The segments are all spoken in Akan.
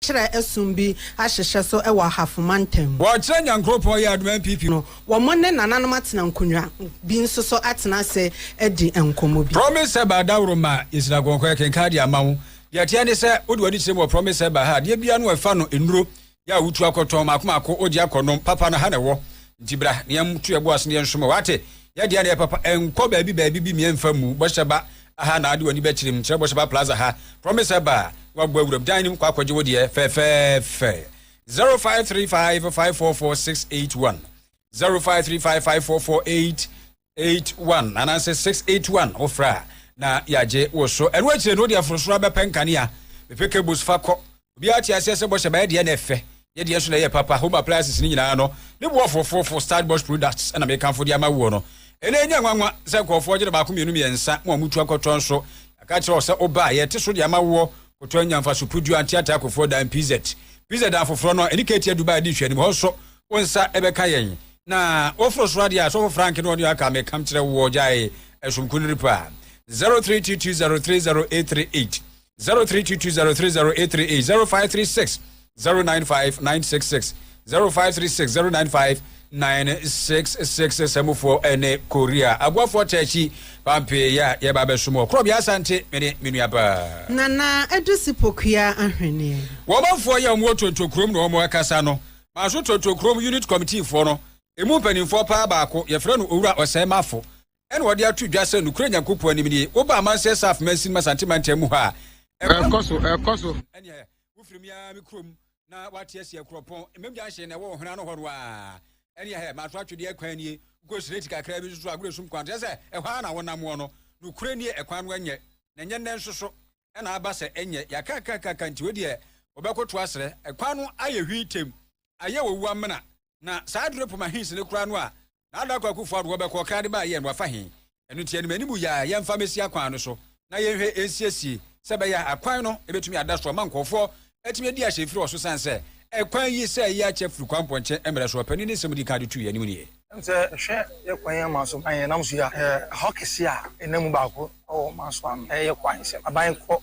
kyerɛ ɛsom bi ahyehyɛ so wɔ ahafo mantam mu. Wɔkyerɛ Nyankoropɔn yɛ adom npp. No, wɔn ne nananom atena nkonnwa bi nso so atena ase adi nkɔmmɔ bi. Promise Herbal Daworo ma yɛsira kɔnkɔn ɛkenkan de ama wo. Deɛ ɛteɛ ne sɛ, wode w'ani kyerɛ mu wɔ Promise Herbal ha a, adeɛ biara no ɛfa no nnuro yɛ a wotu akɔtɔn maako maako, wogye akɔ nom, papa no ha na ɛwɔ. Nti bra na yɛn to yɛn bo ase na yɛn som wɔ, wate? Yɛ deɛ na ɛyɛ papa, ɛnkɔ baabi baabi bi mia ɛmfa mmu, bɔhyɛ ba. Aha na wode w'ani bɛkyerɛ mu, kyerɛ Bosheba Plaza ha, Promise Herbal, na woabɔ awuram dan no mu kɔ akɔgye wo deɛ fɛfɛɛfɛ. 0535 544681 0535 544881 anaasɛ 681 wofrɛ a na yɛagye wo so. Ɛno akyire no wode aforosoro abɛpɛ nkanea, bɛpɛ cables fa kɔ Obiara te aseɛ sɛ bɔhyɛ bɛyɛ deɛ na ɛfɛ, yɛ deɛ nso na ɛyɛ papa, home appliances no nyinaa no, me boɔfo fofo Start Bosch Products ɛna mekamfo de ama woɔ no. Ɛnɛ ɛnyɛ nwanwa sɛ nkurɔfoɔ ɔgye no baako mmienu mmiɛnsa, mo a motu akɔtɔ nso, yɛaka akyerɛ wo sɛ wo ba a, yɛte so de ama woɔ, kɔtɔ nya mfaso Pudu Anteate Akofoɔ Dan PZ. PZ dan foforɔ no, ɛne Katie Dubai di nhwɛanim, hɔ nso wo nsa ɛbɛka yɛn. Na woforo soro adeɛ a, Sɔfo Frank ne ɔne aka mekam kyerɛ woɔ, gyae ɛsom kuniripa. 0322030838 zero three two two zero three zero eight three eight zero five three six zero nine five nine six six zero five three six zero nine five nine six six sɛmufoɔ ɛne korea aboafoɔ tɛɛkyi pampe yɛ a yɛba abɛsom wɔ korɔ bi asante mene me nua paa nana ɛdesi pokua ahweneɛ wɔmanfoɔ yɛ wɔn tonto kurom na wɔn ɛkasa no maaso tonto kurom unit committeefoɔ no emu mpanimfoɔ paa baako yɛfrɛ no owura ɔsɛe mafo ɛna wɔde ato dwa sɛ nokorɛ Nyankopɔn anim nie. Woba Amansɛ Saf Mansin Masante mantam mu hɔ a, ɛkɔ so, ɛkɔ so. Ɛneɛ, wofiri me ara me kurom na wate asi akurɔpɔn, mmam gyanhyen na ɛwɔ ɔhena no hɔ no a, ɛneɛ hɛ, mato atwedeɛ kwan nie, wokɔ sireti kakra bi nso so agorɔ sum kwan, kyerɛ sɛ ɛhɔ ara na wonam wɔ no. Nokorɛ nie, ɛkwan no ɛnyɛ, na ɛnyɛ nnɛ nso so, ɛna aba sɛ ɛnyɛ, yɛakakakaka nti wei deɛ wɔbɛkoto asrɛ, ɛkwan no ayɛ hwii tem, ayɛ owu amena, na saa aduro poma hins no koraa no a, Na Adako Akuffo Addo wɔbɛkɔ ɔkra de baayɛ no wafa he? Ɛno nti anim anim yi a yɛmfa mɛsi akwan no so na yɛnhwɛ nsiesie sɛ ɛbɛyɛ a akwan no ɛbɛtumi ada so ama nkurɔfoɔ atumi adi ahyɛmfiri wɔ so sane sɛ ɛkwan yi sɛ yɛ akyɛ firi kwan mpɔnkyɛn mmerɛ so ɔpanin ne nsɛm ɔdi kan de too yɛn anim nie. Ɛne sɛ hwɛ yɛ kwan yi amanso ban yɛ nam so yi a ɛhɔ kɛseɛ a ɛnam mu baako wɔ ɔmanso ano ɛyɛ kwan sɛ aban kɔ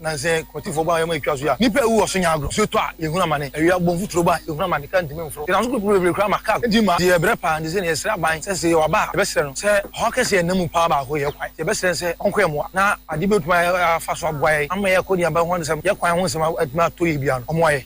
Na sɛ kɔtifoɔ ba a ɔyɛ ma ɛtwa so yi a, nnipa a ɛwu wɔ so nya agorɔ. Nsuo tɔ a, yɛhunu amane. Awia bɔ mfuturo ba a, yɛhunu amane, kaa ntumi mforo. Yɛnam so poroporoo bebree koraa ma kaa enti ma yɛyɛ brɛ paa. Enti sɛ yɛsrɛ aban sɛ sɛ yɛwɔ aba a, yɛbɛsrɛ no sɛ ɔhaw kɛse a ɛnna mu paa baako yɛ kwan. Nti yɛbɛsrɛ no sɛ ɔnkɔyɛ mmoa na adeɛ bi a ɔbɛtumi afa so aboa yɛn ama yɛakɔ yɛn aban ho nsɛm, yɛn kwan ho nsɛm atumi atɔ yie biara no, ɔmmoa yɛn.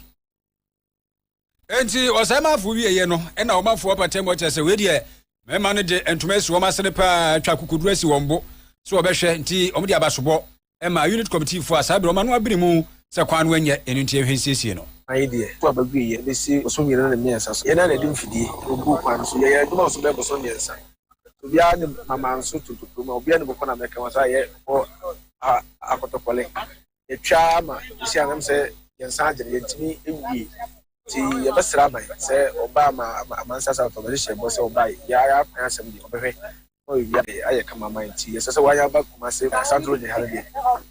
enti ɔsɛe manfo wieɛ no ɛna ɔmanfo apata mu ɔkyɛ sɛ wei deɛ mmarima no de ntoma asi wɔn asene paa atwa kokoduro asi wɔn bo sɛ wɔbɛhwɛ nti wɔn de abasobɔ ɛma unit committee fo a saa berɛ wɔn ano abiri mu sɛ kwan no ɛnyɛ ɛno nti ɛhwɛ nsiesie no. Ayi deɛ, kɔ a bɛgu yɛ bɛsi boso mmienu ne mmiɛnsa so. Yɛn na yɛde mfidie na oguu kwan no so. Yɛyɛ adwuma wɔ so bɛyɛ boso mmiɛnsa. Obiara ne mamanso tontokurom a obiara ne bɔkɔ na mɛka wɔn saa yɛ wɔ ha akɔtɔkɔle. yɛtwa ara ma ɛsi anam sɛ yɛn nsa agye no, yɛntumi nwie. Nti yɛbɛsrɛ aban sɛ ɔba ama amansa asafo ɔbɛhye hyɛ ɛbɔ sɛ ɔba yɛ ara akwan asɛm deɛ ɔbɛhwɛ ma ɔyɛ wia deɛ ayɛ kama ma nti yɛsɛ sɛ wɔn aba kuma se asantoro deɛ ha no deɛ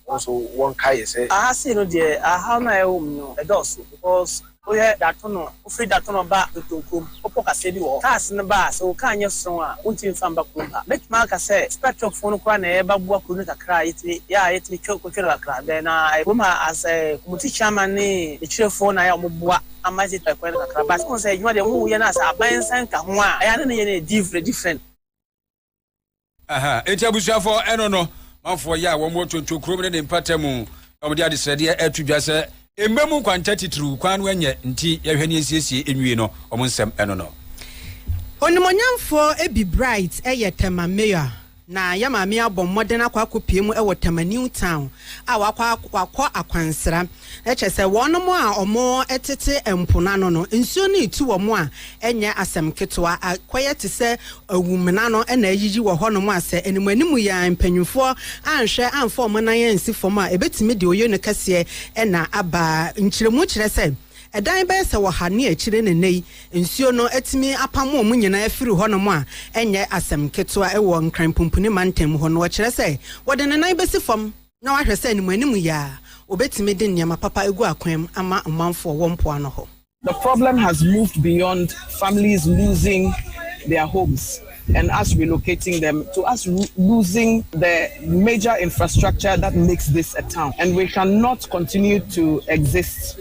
wɔn so wɔn ka yɛ sɛ aha sei no deɛ aha no a ɛwɔ mu no ɛdɔɔso because Woyɛ Datono, wofiri Datono ba Dotoo kurom, wopɔ kaseɛ bi wɔ hɔ. Cars no ba a, sɛ wo car nyɛ strong a, wontumi mfa mba kurom ha. Mɛtumi aka sɛ Spectrum foɔ no koraa na ɛba boa kuro no kakra a yɛtumi yɛ a yɛtumi twa kɔtwa no kakra. Then na kurom ha as community chairman ne akyirefɔɔ na ayɛ a wɔboa ama yɛtumi twa kwan no kakra. But wohu sɛ adwuma deɛ wɔyɛ no as aban nsa nka ho a, ɛyɛ a na ne yɛ no yɛ different. aha enti abusuafo ɛno no manfoɔ yɛ a wɔn wɔ tonto kurom ne ne mpata mu na wɔde adesrɛdeɛ ato dwa sɛ mma mu nkwanta titiriw kwan no ɛnyɛ nti yɛhwɛ ne nsiesie nwie no wɔn nsɛm ɛno no. Onimonyamfoɔ Ebi Bright yɛ Tema Mayor na yɛ maame abɔ mmɔden akɔ akɔpue mu wɔ Tema New Town a wakɔ akwansra. Kyerɛ sɛ, wɔnom a wɔtete mpo no ano no, nsuo no retu wɔn a, ɛnyɛ asɛm ketewa. Akɔyɛ te sɛ awumena no na ayiyi wɔ hɔnom a, sɛ animuanimu yi ara mpanimfoɔ anhwɛ amfa wɔn nan ansi fam a, ɛbɛtumi de oyono kɛseɛ na aba. Nkyerɛmu kyerɛ sɛ, ɛdan bɛyɛ sɛ ɔha ne akyire na nnɛ yi, nsuo no atumi apamo wɔn nyinaa afiri hɔnom a, ɛnyɛ asɛm ketewa. Wɔ Nkran Pumpuni Mantam hɔ no, wɔkyerɛ sɛ, wɔde ne nan bɛsi fam. na wahwɛ sɛ animuanimu yi ara obetumi de nneɛma papa agu akwan mu ama ɔmanfo a wɔwɔ mpoano hɔ. The problem has moved beyond families losing their homes and us relocating them to us losing the major infrastructure that makes this a town and we cannot continue to exist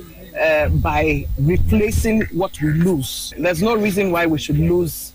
by replacing what we lose. There's no reason why we should lose.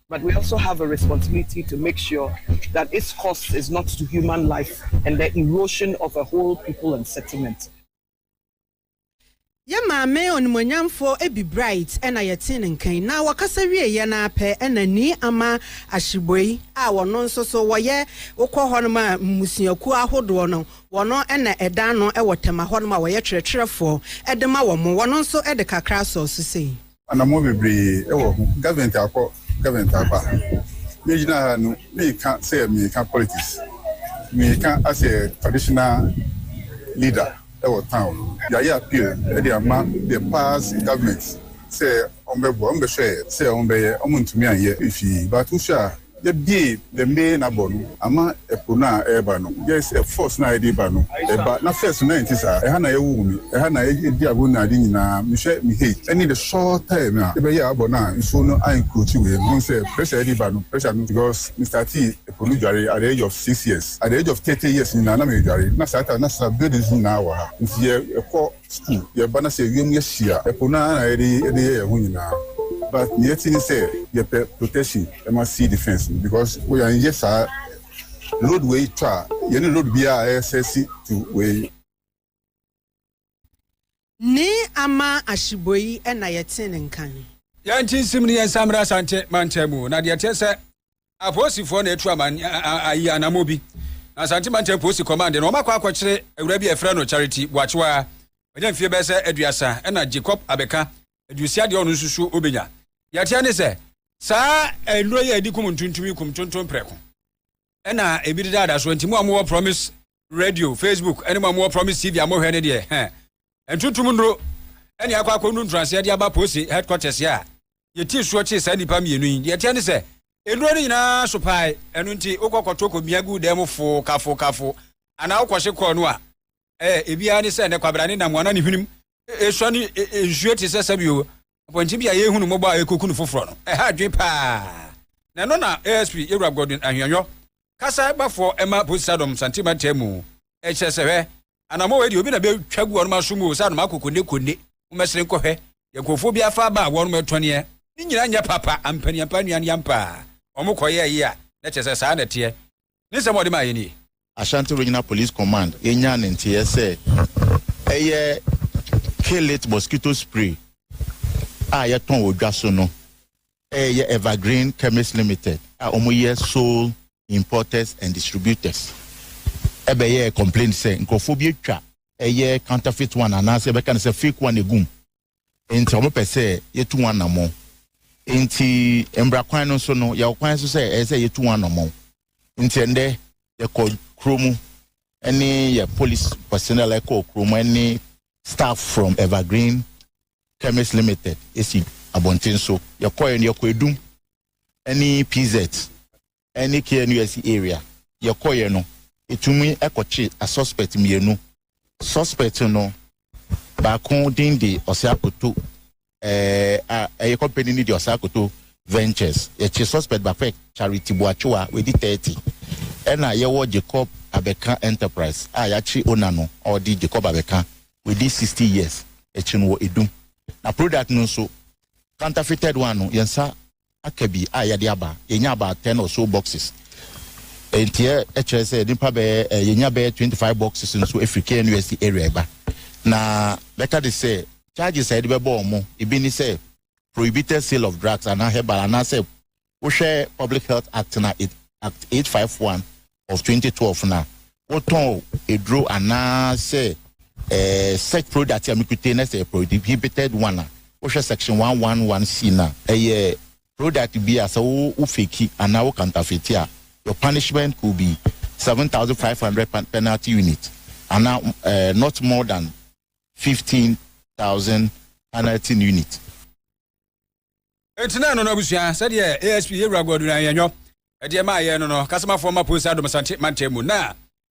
but we also have a responsibility to make sure that its cost is not to human life and the erosion of a whole people and settlement. Yɛn maame onimuonyamfoɔ Abby Bright na yɛtee ne nka yi, na wɔkasa wieeɛ no ara pɛ na Nii Ama Ashibwey a wɔno nso so wɔyɛ wokɔ hɔnom a mmusuakuo ahodoɔ no wɔn na ɛda ano wɔ Tema hɔnom a wɔyɛ twerɛtwerɛfoɔ de ma wɔn, wɔn nso de kakra sɔɔ so sei. Anammɔn bebree wɔ ho, government akɔ, government aba. Me gyina ha no, meka sɛ meka politics. Meka as a traditional leader wɔ town no. Yɛayɛ appeal de ama the past government sɛ wɔn bɛboa, wɔn bɛhwɛɛ sɛ wɔn bɛyɛ, wɔn ntumi anyɛ. Fii, but wohwɛ a Yɛbue the main abɔ no ama ɛpo no a ɛreba no yɛ sɛ force no a ɛde ba no ɛba na first no na ɛnte saa ɛha na yɛwoo me ɛha na yɛdi agoru ne ade nyinaa mehwɛ me he ɛne the short time a yɛbɛyɛɛ abɔ no a nsuo no a encroachi wei no wohu sɛ pressure a ɛde ba no pressure no because me startee ɛpo no dware at the age of six years at the age of thirty years nyinaa na meredware na saa time na saa buildings nyinaa wɔ ha nti yɛ ɛkɔ Sɛ yɛba na sɛ wiem yɛ hye a, ɛpo no ara na yɛde yɛ yɛn ho nyinaa but nea ɛte ne sɛ yɛpɛ protection ma sea defence no because wo yɛn yɛ saa road wei tɔ a yɛne road biara a ɛsɛ si to wei. Ne ama ahyebɔ yi na yɛte ne nka no. Yɛn nti nsem ne yɛn nsa mmra Asante mantam mu na deɛ ɛteɛ sɛ. Apolisifoɔ na atu aman ayi anamɔ bi na Asante Mantam Polisi Kɔmande no wɔakɔ akɔkyere awura bi a yɛfrɛ no Charity Boakyewa a wanya mfeɛ bɛyɛ sɛ aduasa ɛna Jacob Abeka aduosia deɛ ɔno nso suo ɔbɛnya. Deɛ ɛteɛ ne sɛ saa nnuro yi a ɛdi kum ntontom yi kum tontom prɛko ɛna ebi dedaada so nti mo a mowɔ Promise radio facebook ɛne mo a mowɔ promise tv a mohwɛ ne deɛ hɛ ntuntum nnuro ɛne akɔ akɔ nu ntoraseɛ de aba posi headquarters a yɛti soɔ kyee saa nnipa mmienu yi deɛ ɛteɛ ne sɛ nnuro no nyinaa so pae ɛno nti wokɔ kɔto kɔmia gu dan mu fo kafo kafo anaa wokɔhye kɔɔ no a ɛɛ ebiara ne sɛ ne kwabra ne nam ana ne hwenem esua ne nsuo te sɛ sɛbio Mpɔnkye bi a yɛrehu no mmɔbɔ a ɛrekoku no foforɔ no, ɛha adwene paa. Na ɛno na ASP Yewura Godwin Ahianyɔ, kasa bafoɔ ɛma Polisi Sadom Santen Mantam mu, ɛkyerɛ sɛ hwɛ, anammɔ wei deɛ obi na bɛtwa gu wɔnom aso mu o, sɛ anomako konne konne, momɛsere nkɔhwɛ deɛ nkurɔfoɔ bi afa aba a wɔnom ɛtɔneɛ, ne nyinaa nyɛ papa, ampaniampa nnuane ampa a wɔn kɔyɛɛye a, na kyerɛ sɛ saa na ɛteɛ. Ne nsɛm a ɔde maeɛ nie. Ashanti Regional Police Command nyaa ne nteeɛ sɛ ɛyɛ Kill-it mosquito spray a yɛtɔn wɔ dwa so no. Ɛyɛ Evergreen Chemists Limited a wɔyɛ sole importers and distributors bɛyɛɛ complaint sɛ nkurɔfoɔ bi atwa ɛyɛ counterfeit one anaasɛ yɛbɛka no sɛ fake one agu mu enti wɔpɛ sɛ yɛtu ho anammɔn. Enti mmara kwan no so no, yɛwɔ kwan so sɛ ɛyɛ sɛ yɛtu ho anammɔn. Enti ɛndɛ yɛkɔ kuro mu ne yɛ police personnel ɛkɔ kuro mu ne staff from Evergreen Chemist Limited esi abɔnten so. Yɛkɔɛ no yɛkɔ Edum ne PZ. ne KNUST area yɛkɔeɛ no, ɛtumi kɔkye asuspect mmienu. Suspect no baako din de Ɔsɛakoto a ɛyɛ company no de Ɔsɛakoto Ventures. Yɛkye suspect baako yɛ Charity Boakyewa, wadi 30. Ɛna yɛwɔ Jacob Abɛka Enterprise a yɛakye owner no a ɔde Jacob Abɛka, wadi 60 years. Yɛkye no wɔ Edum. Na product no nso, counterfeited one no, yɛn nsa aka bi a yɛde aba. Yɛnya about ten or so boxes. Nti ɛ, ɛkyerɛ sɛ nnipa bɛyɛ ɛ, yɛnya bɛyɛ twenty five boxes nso afiri KNUST area ɛba. Na bɛka de sɛ charges a yɛde bɛbɔ wɔn, ebi ne sɛ prohibited sale of drugs anaa herbal anaasɛ wohwɛ Public Health Act no a, Act eight five one of twenty twelve na wotɔn eduro anaa sɛ ɛɛ eh, search product a mekute na sɛ prohibited one a wohwɛ section one one one c na ɛyɛ product bi a sɛ wo wo feki anaa wo kantafeti a your punishment could be seven thousand five hundred penalty unit anaa ɛɛ eh, not more than fifteen thousand penalty unit. Enti na ɛno no abusua sɛdeɛ ASP Yewura Godwin Ayanyɔ ɛdeɛ maa yɛn no no kasamafoɔ ma Posa Dom Asante mantam mu na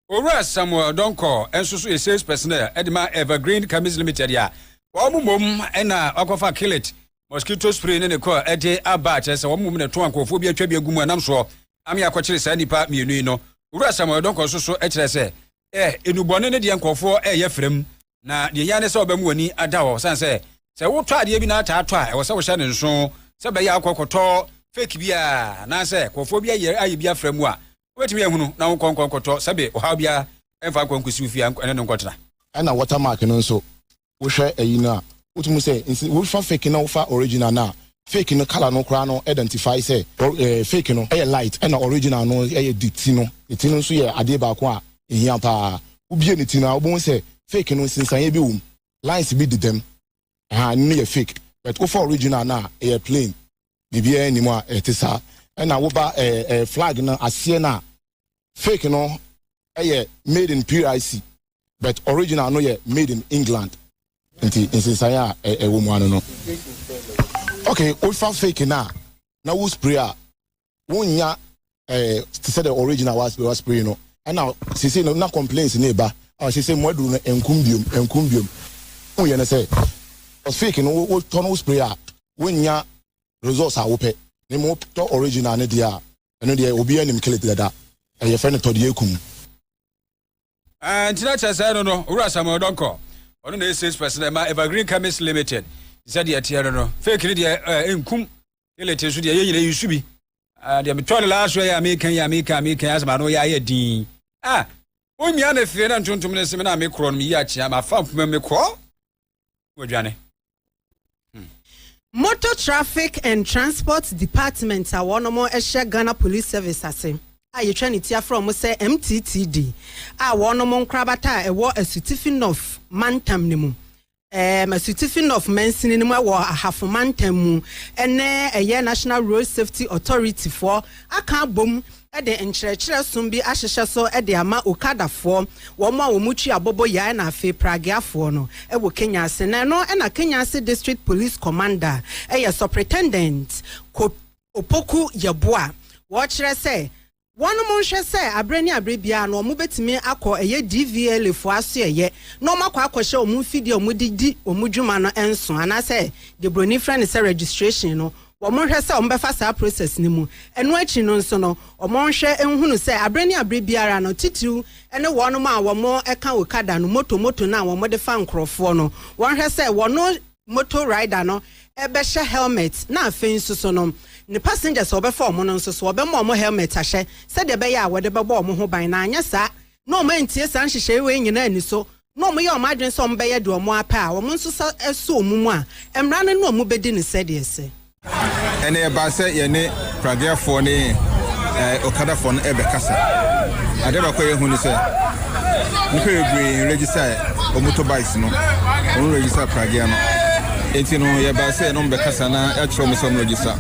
Owura Samuel Donkor nso so yɛ sales personnel ɛde ma Evergreen Chemists Limited a wɔn mmom na wakɔfa Killit mosquito spray ne ne kɔ ɛde aba a kyerɛ sɛ wɔn mmom na ɛtɔn nkurɔfoɔ bi atwa bi agu mu ɛnam soɔ ame akɔkyere saa nnipa mmienu yi no Owura Samuel Donkor nso so kyerɛ sɛ ɛ enubɔne ne deɛ nkurɔfoɔ ɛyɛ frɛm na deɛ hia ne sɛ ɔbɛmu w'ani ada hɔ sane sɛ sɛ wotɔ adeɛ bi na ataa tɔ a ɛwɔ sɛ wohyɛ ne nso sɛ bɛyɛ akɔ kɔtɔ fake bi a anaasɛ nkurɔfoɔ bi ayɛ ayɛ bi afrɛ mu a wobɛtumi ahunu na wonkɔ nkɔ nkɔtɔ sɛbe ɔhaw biara ɛmfa nkɔ nkɔsi wo fie ɛne no nkɔtena. Ɛna watermark no nso wohwɛ ayi no a, wotumi hu sɛ nsi wofa fake na wofa original no a, fake no colour no koraa no identify sɛ fake no yɛ light ɛna original no yɛ de ti no. Ne ti no nso yɛ adeɛ baako a ɛhia pa ara. Wobie ne ti no a, wobɛhu sɛ fake no nsensaneɛ bi wɔ mu, lines bi dedam, ahaa, ɛno no yɛ fake. But wofa original no a, ɛyɛ plain, biribiara nni mu a ɛte saa. Ɛna woba flag no aseɛ no a, fake no yɛ made in PIC, but original no yɛ made in England nti nsensan a ɛwɔ mu ano no okay wofa fake no a na wo spray a wonnya eh, te sɛ dɛ original wa spray no ɛna sese no na complaints ne ba a wɔhyɛ sɛ mu aduru no nkum biom nkum biom woyɛ no sɛ fake no wotɔ no wo spray a wonnya results a wopɛ ne mu tɔ original no deɛ a ɛno deɛ obiara nim kele dada ɛyɛ fɛ no tɔdeɛ kum Ah, nti na kyerɛ sɛ no no owura samuel dɔnkɔ ɔno na ɛyɛ sales person na ɛma evergreen chemist limited sɛ deɛ ɛteɛ no no fake no deɛ eh, nkum elete nso deɛ yɛ nyina yi su bi ah, deɛ metɔ no last yɛ a meka yi a meka a meka yi asɛm ano yɛ ayɛ din ah wonwia me fee na ntontom no seme na mekorɔ no meyi akyea mafa mpoma me korɔ wadwane. Hmm. Motor Traffic and Transport Department a wɔn hyɛ Ghana Police Service ase a yɛtwa ne ti afrɛ wɔn sɛ MTTD a wɔn nkorabata a ɛwɔ Asutifi North mantam no mu ɛɛm Asutifi North mansini no mu wɔ Ahafo mantam mu ɛnɛ ɛyɛ National Road Safety Authority foɔ aka abom de nkyerɛkyerɛ som bi ahyehyɛ so de ama Okadafoɔ, wɔn a wɔn twi abobɔ yae na afei Pragueafoɔ no, wɔ Kenya ase. Na ɛno na Kenya ase District Police Commander, ɛyɛ Supretendent Kop Opoku Yeboah, wɔkyerɛ sɛ wɔn nhwɛ sɛ aberɛ ne aberɛ biara no wɔn bɛtumi akɔ ɛyɛ DVLA foɔ asoɛeɛ na wɔn akɔ akɔhyɛ wɔn mfidie a wɔn de di wɔn dwuma no nso anaasɛ deɛ broni frɛ no sɛ registration no wɔnhwɛ sɛ wɔbɛfa saa process no mu. Ɛno akyi no nso no, wɔnhwɛ nhunu sɛ abere ne abere biara no, titiriw ne wɔnom a wɔka okada no, moto moto no a wɔde fa nkorɔfoɔ no, wɔnhwɛ sɛ wɔno moto rider no bɛhyɛ helmet na afei nso so no ne passengers a wɔbɛfa wɔn no nso so wɔbɛma wɔn helmet ahyɛ sɛdeɛ ɛbɛyɛ a wɔde bɛbɔ wɔn ho ban na anyɛ saa na wɔn antie saa nhyehyɛe wei nyinaa ani so na wɔyɛ wɔn adwene sɛ wɔbɛyɛ deɛ wɔn ara pɛ a, wɔn nso sa sɔ wɔn mu a, mmara no ne wɔn bɛdi no sɛdeɛ ɛsɛ. Ɛnna ɛbaa sɛ yɛne Praguefoɔ ne Okadafoɔ no rebɛkasa. Adeɛ baako a yɛhu ne sɛ, nnipa bebree nregistae wɔn motorbikes no, wɔnregistae Praguea no. Enti no, yɛbaa sɛ yɛne wɔn bɛkasa na yɛakyerɛ wɔn sɛ wɔnregista.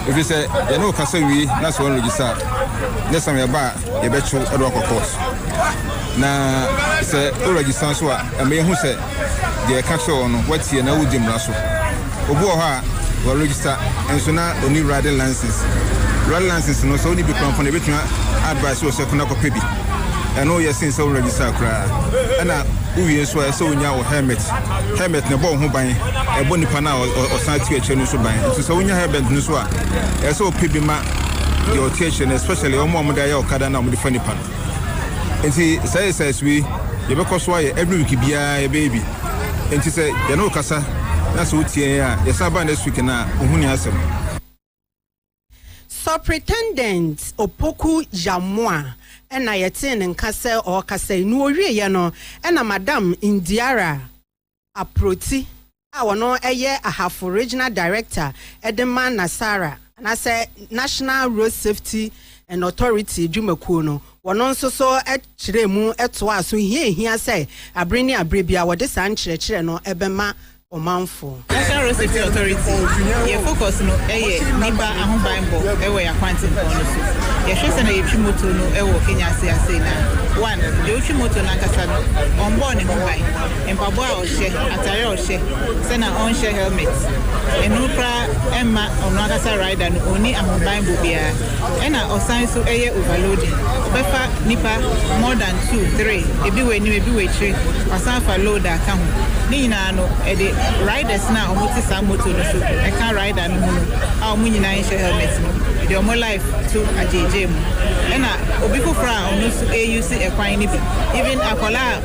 Ɛfiri sɛ, yɛne wo kasa wie na sɛ wɔnregista a, next time yɛba a, yɛbɛto ɛde wakɔ court na sɛ o register nso a ɛmɛ yɛhu sɛ deɛ ɛka kyerɛ wɔn no wɔatie na wodi mmara so obi wɔ hɔ a wɔ register nso na oni riding license riding license no sɛ oni bi kɔnkɔn ebetumi advice wɔ sɛ kɔnɔ kɔpɛ bi ɛno yɛ sen sɛ o register koraa ɛna wowie nso a ɛsɛ wonya wɔ helmet helmet na ɛbɔ wo ho ban ɛbɔ nipa no a ɔsan ti akyire no nso ban nso sɛ wonya helmet no nso a ɛsɛ wopɛ bi ma deɛ ɔte akyire no especially wɔn a wɔde ayɛ ɔkada na wɔde fa nipa no nti saa exercise wei yɛbɛkɔ so ayɛ every week biara yɛbɛyɛ bi nti sɛ yɛne wo kasa na sɛ wotie a yɛsan ba next week na ohu ne asɛm Superintendent Opoku Yamoa na yɛtee ne nka sɛ ɔrekasa yi. Nea ɔwieeɛ no, ɛna Madam Ndiara Aproti a ɔno yɛ Ahafo Regional Director de ma NASARA anaasɛ National Road Safety and Authority dwumakuo no, wɔno nso so kyerɛɛ mu toaa so hia a ɛhia sɛ abere ne abere biara wɔde saa nkyerɛkyerɛ no bɛma ɔmanfoɔ. National Road Safety Authority, yɛn focus no yɛ nnipa ahobanbɔ wɔ yɛn akwantempɔn no so. Yɛhwɛ sɛnea yɛtwi motor no wɔ Kenya ase asei no a, one, deɛ ɔtwi motor no ankasa no, ɔmbɔɔ ne ho ban. Mpaboa a ɔhyɛ, atare a ɔhyɛ, sɛ na ɔnhyɛ helmet, ɛno koraa mma ɔno ankasa rider no ɔnni ahobanbɔ biara. Ɛna ɔsan nso yɛ overloading, ɔbɛfa nnipa more than two, three, ebi wɔ anim, ebi wɔ akyire, wasan afa load aka ho. Ne nyinaa no ɛde riders no a wɔte saa motor no so, ɛka rider no ho no a wɔn nyinaa nhyɛ helmet no, ɛde wɔn life to agyeegyee mu. Ɛna obi foforɔ a ɔno nso reuse ɛkwan no bi, even akwadaa a.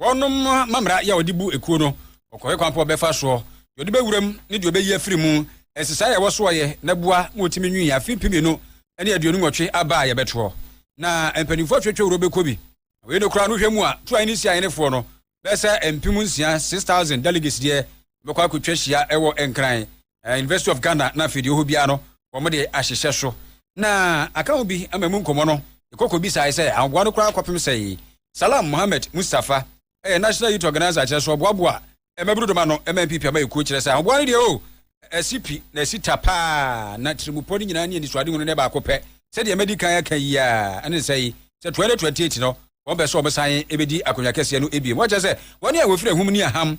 Wɔnom mamera yɛ ɔde bu ekuo no, ɔkɔhwɛ kwan pa ɔbɛfa soɔ, deɛ ɔde bɛwura mu ne deɛ ɔbɛyi afiri mu, nsesaeɛ a ɛwɔ soɔ yɛ na boa ma wɔtumi nwii afe mpem mmienu ne aduonu nwɔtwe aba a yɛbɛtoɔ. Na mpaninfoɔ atwatwa wuro bɛkɔ bi. Na wei no koraa no hwɛ mu a Tuo ahene Sia ahenefoɔ no bɛyɛ sɛ mpem nsia, six thousand, delegates deɛ bɛkɔ akɔtwa hyia wɔ Nkran eh, University of Ghana na afei deɛ ɔhɔ biara no wɔn de ahyehyɛ so na aka ho bi ama mu nkɔmmɔ no ɛkɔkɔ bisae sɛ ahoboa no koraa kɔpem sɛe Salam Mohammed Mustafa ɛyɛ National Youth Organizer kyerɛ so ɔboaboa mmabunu dɔm ano ɛma mpipi ama ɛkuo kyerɛ sɛ ahoboa no deɛ o ɛsi pi na ɛsi ta paa na tirimupɔ no nyinaa ne anisoade hunu ne baako pɛ sɛdeɛ madi kan aka yi a ɛne nsɛ yi sɛ 2028 no wɔn bɛ sɛ wɔn san ɛbɛdi akonnwa kɛseɛ no ebiem wɔkyɛ sɛ wɔn a wɔfiri ahum ne aham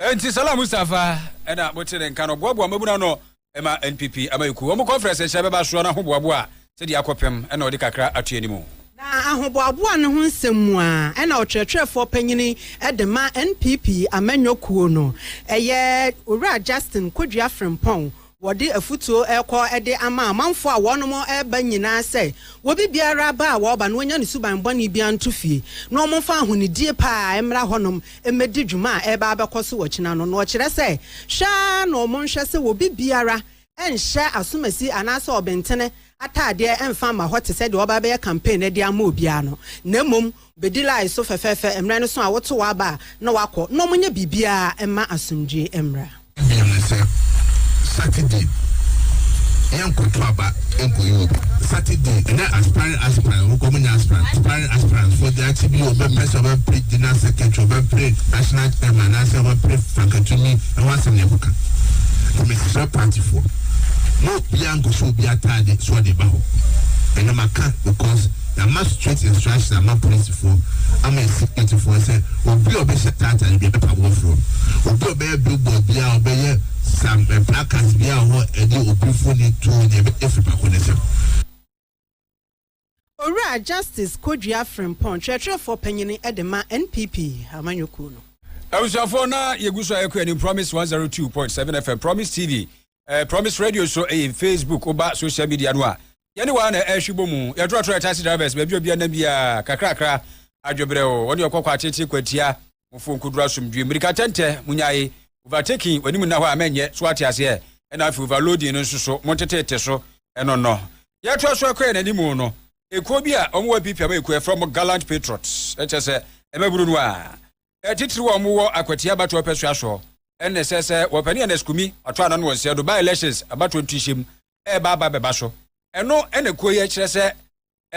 Enti Salah Mustapha na mote ne nka no boaboa mmabunu ano ma NPP amanyɔkuo wɔn conference nhyɛ bɛba soɔ no ahoboaboa a sɛ deɛ akɔpem na ɔde kakra ato anim o. Na ahoboaboa no ho nsɛm mu a ɛna ɔkyerɛkyerɛfoɔ panyini de ma NPP amanyɔ kuo no yɛ Owura Justin Kodua Frimpong wɔde afutuo rekɔ de ama amanfoɔ a wɔnom reba nyinaa sɛ wɔbi biara ba a wɔba no wɔnya ne suban bɔne biara nto fie na wɔn mfa ahonidie paa mmra hɔnom mmɛdi dwuma a ɛreba abɛkɔ so ɔkyena no na ɔkyerɛ sɛ hwɛ ara na wɔn nhwɛ sɛ wɔbi biara nhyɛ asomasi anaasɛ ɔbentene ataadeɛ mfa mma hɔ te sɛ deɛ ɔreba abɛyɛ campaign no de ama obiara no, na mmom bɛdi line so fɛfɛɛfɛ mmerɛ no so a woto w'aba a na wakɔ, na wɔnyɛ biribiara mma asomdwoeɛ mmra. Bio ne sɛ, Saturday yɛnkɔto aba nkɔyi obi. Saturday na aspiring aspirant wɔn kɔn mu nyɛ aspirant aspiring aspirant fo de akyi bi ɔbɛpɛ sɛ ɔbɛpere general secretary ɔbɛpere national chairman anaasɛ ɔbɛpere fankatumi. Ɛho asɛm na yɛkɔka. Nti mesrɛ partyfoɔ, mo obiara nkɔhyɛ obi ataade sɛ ɔde ba hɔ. Ɛno maka because yɛama straight instruction ama polisifoɔ ama securityfoɔ sɛ obi a ɔbɛhyɛ taa ataade biara yɛbɛpa mo afiri hɔ. Obi a ɔbɛyɛ billboard biara, ɔbɛyɛ some placards biara wɔ hɔ ɛde obi mfoni to nyɛ yɛbɛgye firi pako no nsam. Owura Justice Kodua Frimpong, Kyerɛkyerɛfoɔ Panyin de ma NPP Amanyɔkuo no. Abusuafoɔ na yɛgu so a yɛkɔ anim Promise 102.7 FM, Promise TV, eh, Promise Radio so ɛyɛ eh, Facebook, woba social media no a yɛne waa na ɛhwe bɔ mu yɛtorɔtorɔ taxi drivers baabi obia nam biara kakrakra adwebrɛ o wɔne ɔkɔkɔ atete kwatia Mofo nkoduru asomdwie. Mmirika tɛntɛ, monyae. Overtaking, w'anim nna hɔ a mɛnyɛ. So wate aseɛ? Ɛna afei overloading no nso so, monteteete so. Ɛnɔnnɔ. Deɛ ɛtoa so ɛkɔ yɛn anim no, ekuo bi a wɔn wɔ apiapia ma ekuo, yɛfrɛ wɔn Gallant Patriots. Ɛkyɛ sɛ, mmabunu no a titiriw a wɔn wɔ akwatia abatoɔ ɔpɛsoa soɔ, ɛna ɛsɛ sɛ wɔpɛ ne Ernest Kumi, wɔato ano no wɔ nseɛ do, by-elections, abatoɔ ntuhyɛm, ɛreba aba bɛba so. Ɛno na kuo yi ɛkyerɛ sɛ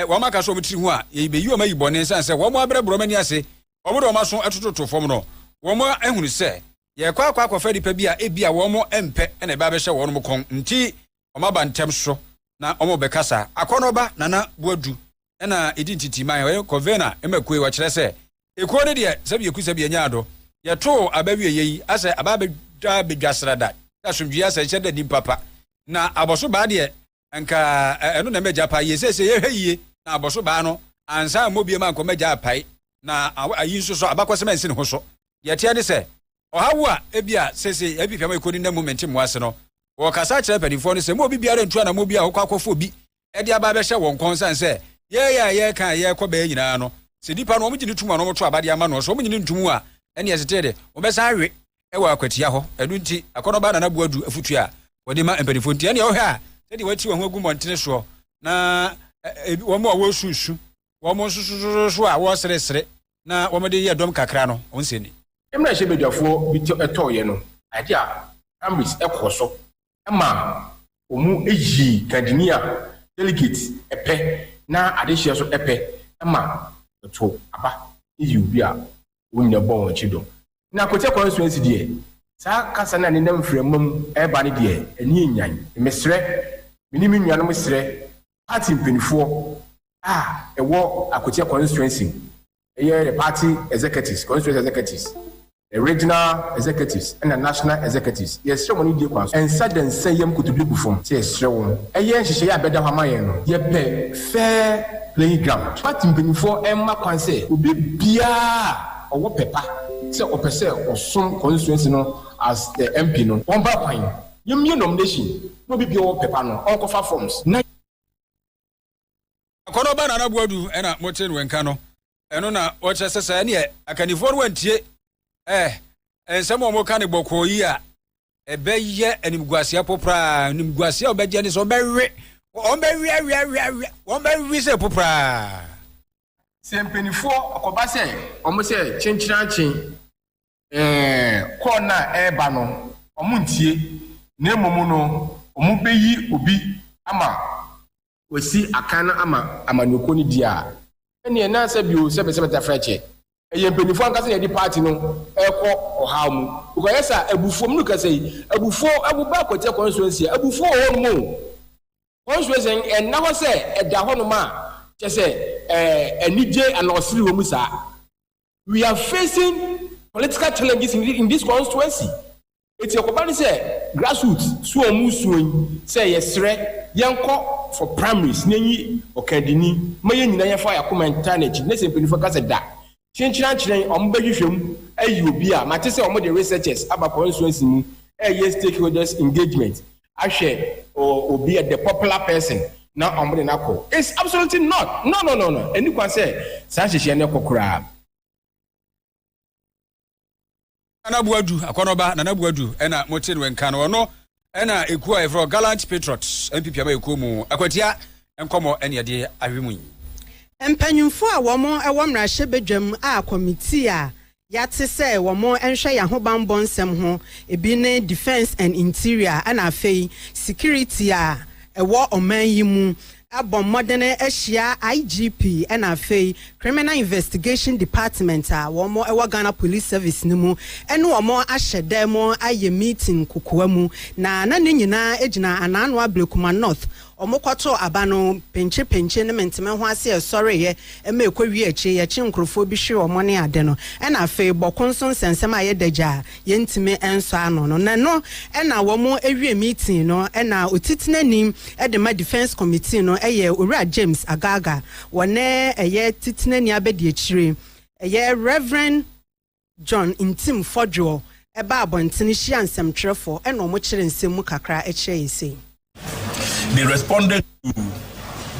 wɔn aka so wɔn tiri ho a yɛbeyi wɔn ayi bɔne ɛsiane sɛ wɔn abrɛbrɛ wɔn ani ase, wɔn de wɔn aso ɛtototo fam no, wɔn ahunu sɛ yɛrekɔ akɔ akɔfa nipa bi a ebia wɔn mpɛ na ɛbɛ abɛhyɛ wɔn kɔn nti wɔn aba ntɛm so na wɔn bɛkasa. Akɔnɔba Nana Boadu na ɛdi ntitiman, ɔyɛ Covena mmakuo, ɔkyerɛ sɛ, Ekuo no deɛ sɛbi yɛku sɛbi yɛnya ado, yɛtoo aba wieɛ yi, asɛ aba abɛdwa abɛdwa srada, sɛ asomdwie asɛ nhyɛ da nim papa, na abɔso baa deɛ nka ɛno na ɛmɛgya paa yie, seesei yɛhwɛ yie na abɔso baa no ansa ammɔ biem ankɔ mɛgya apae, na ayi nso so abakɔsɛm ansi ne ho so, deɛ ɛteɛ ne sɛ, ɔhaw a ebia seesei yɛn fifia ma ekɔ ne nna mu mente mmoa ase no, wɔkasa kyerɛ mpanimfoɔ no sɛ mo obi biara ntu anammɔn bi a ɔkɔ akɔfa obi de aba abɛhyɛ wɔn kɔn sane sɛ yɛyɛ a yɛreka a yɛrekɔ bɛyɛ nyinaa no, sɛ nipa no wɔgye no tom a na wɔto aba de ama no nso wɔnye no ntom a, ɛnneɛ ɛtete de, wɔbɛsan awe wɔ akwatia hɔ. Ɛno nti, akɔnɔbaa na n'aboa du afotu a wɔde ma mpanimfoɔ nti. Ɛnneɛ wohwɛ a, sɛdeɛ wɔati wɔn ho agu mmɔntene soɔ na wɔn a wɔresu su wɔn nsososo a wɔseresere na wɔde yɛ dɔm kakra no nsɛ ni. Mmarahyɛbadwafoɔ bi tɔeɛ no, ade a Cambridge kɔɔ so ma wɔyii kadini a delegate pɛ na adehyeɛ nso pɛ ma wɔto aba yii obi a wɔn nyinaa bɔ wɔn akyi dɔm. Na Quartier Constituency deɛ, saa kasa no a nenam mframa mu reba no deɛ, ani nnyan. Mesrɛ, me ne me nuanom srɛ party mpaninfoɔ a ɛwɔ Akokyɛ constituency mu, ɛyɛ the party executives, constituency executives, the regional executives ɛna national executives, yɛsrɛ mo anidie kwan so, nsa da nsa yam kotodwe gu fam sɛ yɛsrɛ wo yɛ nhyehyɛeɛ a ɛbɛda hɔ ama yɛn no, yɛpɛ fair playing ground. Party mpaninfoɔ mma kwan sɛ obi biara a ɔwɔ pɛ pa sɛ ɔpɛ sɛ ɔsom constituency no as the MP no, ɔmfa kwan, yɛmmie nomination. Na obi biara ɔpɛ ba no ɔnkɔfa forms na. Akɔnɔ ba Nana Boadu ɛna mo te no nka no ɛno na ɔkyerɛ sɛ saa ɛneɛ akannifoɔ no antie ɛɛ nsɛm a ɔmo ka no bɔkɔɔ yi a ɛbɛ yɛ animguaseɛ popraa animguaseɛ a ɔbɛgye ne sɛ ɔbɛ we wɔn bɛ we awe awe awe wɔn bɛ we sɛ popraa. Sɛ mpanifoɔ ɔkɔba sɛ ɔmo sɛ kyenkyerankyen. Ɛɛ, call no a ɛreba no, wɔntie, na mmom no, wɔbeyi obi ama wasi akan no ama amanyɔkuo no di a, ɛnneɛ ɛnna nsɛ bio sɛ bɛsɛ bɛda frɛkyɛ. Ɛyɛ mpaninfoɔ ankasa na yɛde party no rekɔ ɔhaw mu, because ayɛ saa, abufuo, menu kasa yi, abufuo, wo ba Akwatia constituency a, abufuo wɔ hɔ nom o. Constituency no, ɛnna hɔ sɛ ɛda hɔ nom a, kyɛsɛ ɛɛ, anigye anaa ɔsere wɔ mu saa. we are facing political challenges in, in this constituency eti ɛkɔba ne sɛ grassroots so wɔn mu suo yi sɛ yɛsrɛ yɛnkɔ for primaries na enyi ɔkandini ma yɛn nyinaa yɛfa yɛ akoma ntaa n'akyi ne sɛ mpanyinfoɔ ka sɛ da kyenkyerɛ ankyerɛ wɔn bɛhwehwɛ mu ayi obi a mate sɛ wɔn de researchers aba constituency mu ɛyɛ stakeholders engagement ahwɛ obi a the popular person na wɔn de no akɔ it's absolutely not no no no no ɛni kwan sɛ saa nhyehyɛ no kɔ koraa. Nana Buadu akɔnɔba Nana Buadu ɛna mo te no nka no ɔno ɛna ekuo a yɛfrɛ Gallant Patriots NPP ama ekuo mu akwatia nkɔmɔ ɛne ɛde ahwɛ mu yi. Mpanyinfoɔ a wɔn ɛwɔ mmarahyɛ badwam a kɔmitii a Yɛate sɛ wɔnhwɛ yɛn ahobammɔ nsɛm ho, ebi ne Defence and Interior ɛna afei Security a ɛwɔ ɔman yi mu. Abɔ mmɔden ahyia IGP ɛna afei Criminal Investigation Department a wɔn ɛwɔ Ghana Police Service no mu ɛne wɔn ahyɛ dɛm ayɛ meeting kokoa mu na na ne nyinaa gyina Anaa Noa Blekuma North Wɔkɔtoo aba no penkyepenkye ne menteme ho ase a ɛsɔreeɛ ma ɛkɔwiee akyire yi ɛkye nkorɔfoɔ bi hwee wɔn ne ade no ɛna afei bɔko nso nsɛnsɛm a ɛyɛ dagya a yɛntumi nsɔ ano no na ɛno na wɔwie meeting no ɛna otitenani de ma defence committee no ɛyɛ Owura James Agaga wɔne ɛyɛ titenani abadiakyire ɛyɛ Rev. John Ntim Fɔdwoɔ baa abɔntene hyiaa nsɛmtwerɛfoɔ ɛna wɔn kyerɛ nsɛm mu kakra kyerɛ yɛn sei. They responded to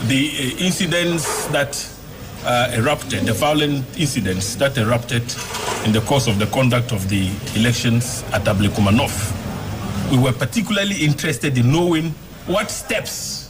the uh, incidents that uh, erupted, the violent incidents that erupted in the course of the conduct of the elections at Ablekuma North. We were particularly interested in knowing what steps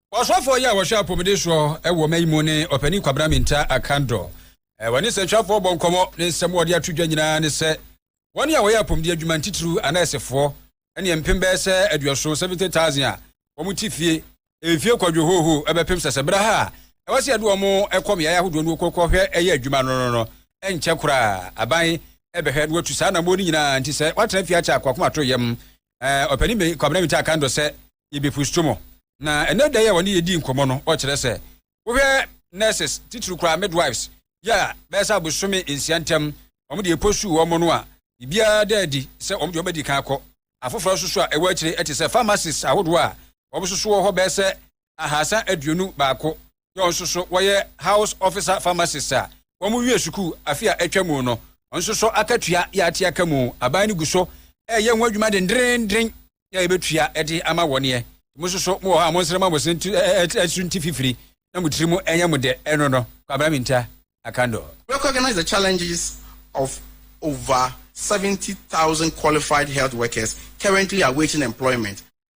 Ɔsɔfoɔ yi a wɔhwɛ apɔmuden soɔ wɔ ɔma yi mu ne Ɔpanin Kwabena Minta Akandor. Wɔne nsɛntwerɛfoɔ bɔ nkɔmmɔ. Ne nsɛm a wɔde ato dwa nyinaa ne sɛ wɔn a wɔyɛ apɔmuden adwuma, ntitiriw anɛɛsefoɔ, ɛne mpem bɛyɛ sɛ aduɔson, 70,000, a wɔn te fie mfie kwadwo hooho bɛpem sɛ sɛ berɛ ha a ɛwɔ sɛ yɛde wɔn kɔ mmeaeɛ ahodoɔ no kɔhwɛ ɛyɛ adwuma no no no nkyɛ koraa aban ɛbɛhwɛ na watu saa anammɔn no nyinaa nti sɛ wɔatena fie akyɛ akoakomato yam eh, Ɔpanin Banyin Kwabena Mintah kan do sɛ yebepusuto mo. Na ɛnnɛ da yi a wɔne yedii nkɔmmɔ no, ɔkyerɛ sɛ, Wohwɛ nurses, titiriw koraa midwives, yi a bɛyɛ sɛ abosome nsia ntam wɔn de eposuu wɔn no a, biribiara da adi sɛ wɔn de wɔn bɛdi kan akɔ. Afoforɔ nso so a ɛwɔ akyire te sɛ pharmacists ahodoɔ a wɔn nso so wɔ hɔ bɛyɛ sɛ ahaasa aduonu baako na wɔn nso so wɔyɛ House Officer Pharmacist a wɔwiee sukuu afe a atwa mu no. Wɔn nso so akatua yɛ ate aka mu. Aban no gu so reyɛ ho adwuma dendeenden na yɛbɛtua de ama wɔn ɛ. Mo nso so mowɔ hɔ a monsrɛ ma mo se nti, ɛso nti fifiri na mo tiri mu ɛnyɛ mo dɛ ɛno no. Kwabena Minta Akandor. Recognize the challenges of over seventy thousand qualified health workers currently awaiting employment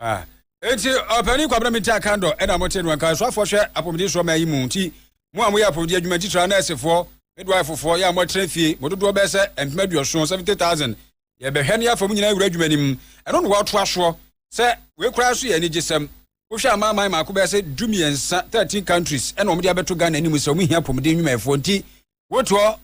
Ah. Enti ɔpanin Kwabena Minteh Akandor na mote no, anka asuafoɔ hwɛ apɔmuden soɔ man yi mu nti mo a moyɛ apɔmuden adwuma ntitire ara nɛɛsefoɔ, midwife-foɔ, yɛ a moatena fie, mo dodoɔ bɛyɛ sɛ mpem aduɔson, seventy thousand, yɛbɛhwɛ na yɛafa mo nyinaa awura adwuma no mu, ɛno na wɔatoa soɔ sɛ wei koraa nso yɛ anigyesɛm. Wohwɛ amanaman mako bɛyɛ sɛ du-mmiɛnsa, thirteen countries, na wɔde abɛto Ghana anim sɛ wɔhia apɔmuden nnwumayɛfoɔ nti Wotoɔ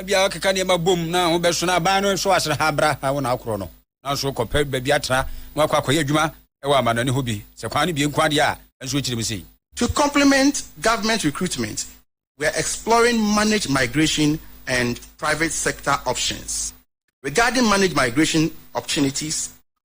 bia ɔkeka nneɛma bom na ho bɛso na aban no nso asere ha bra ha wo na akorɔ no nanso kɔpɛ baabi atena na wakɔ akɔyɛ adwuma ɛwɔ amanɔne hɔ bi sɛ kwan no bie nko adeɛ a nso kyerɛ mu sei. To complement government recruitment, we are exploring managed migration and private sector options. Regarding managed migration opportunities,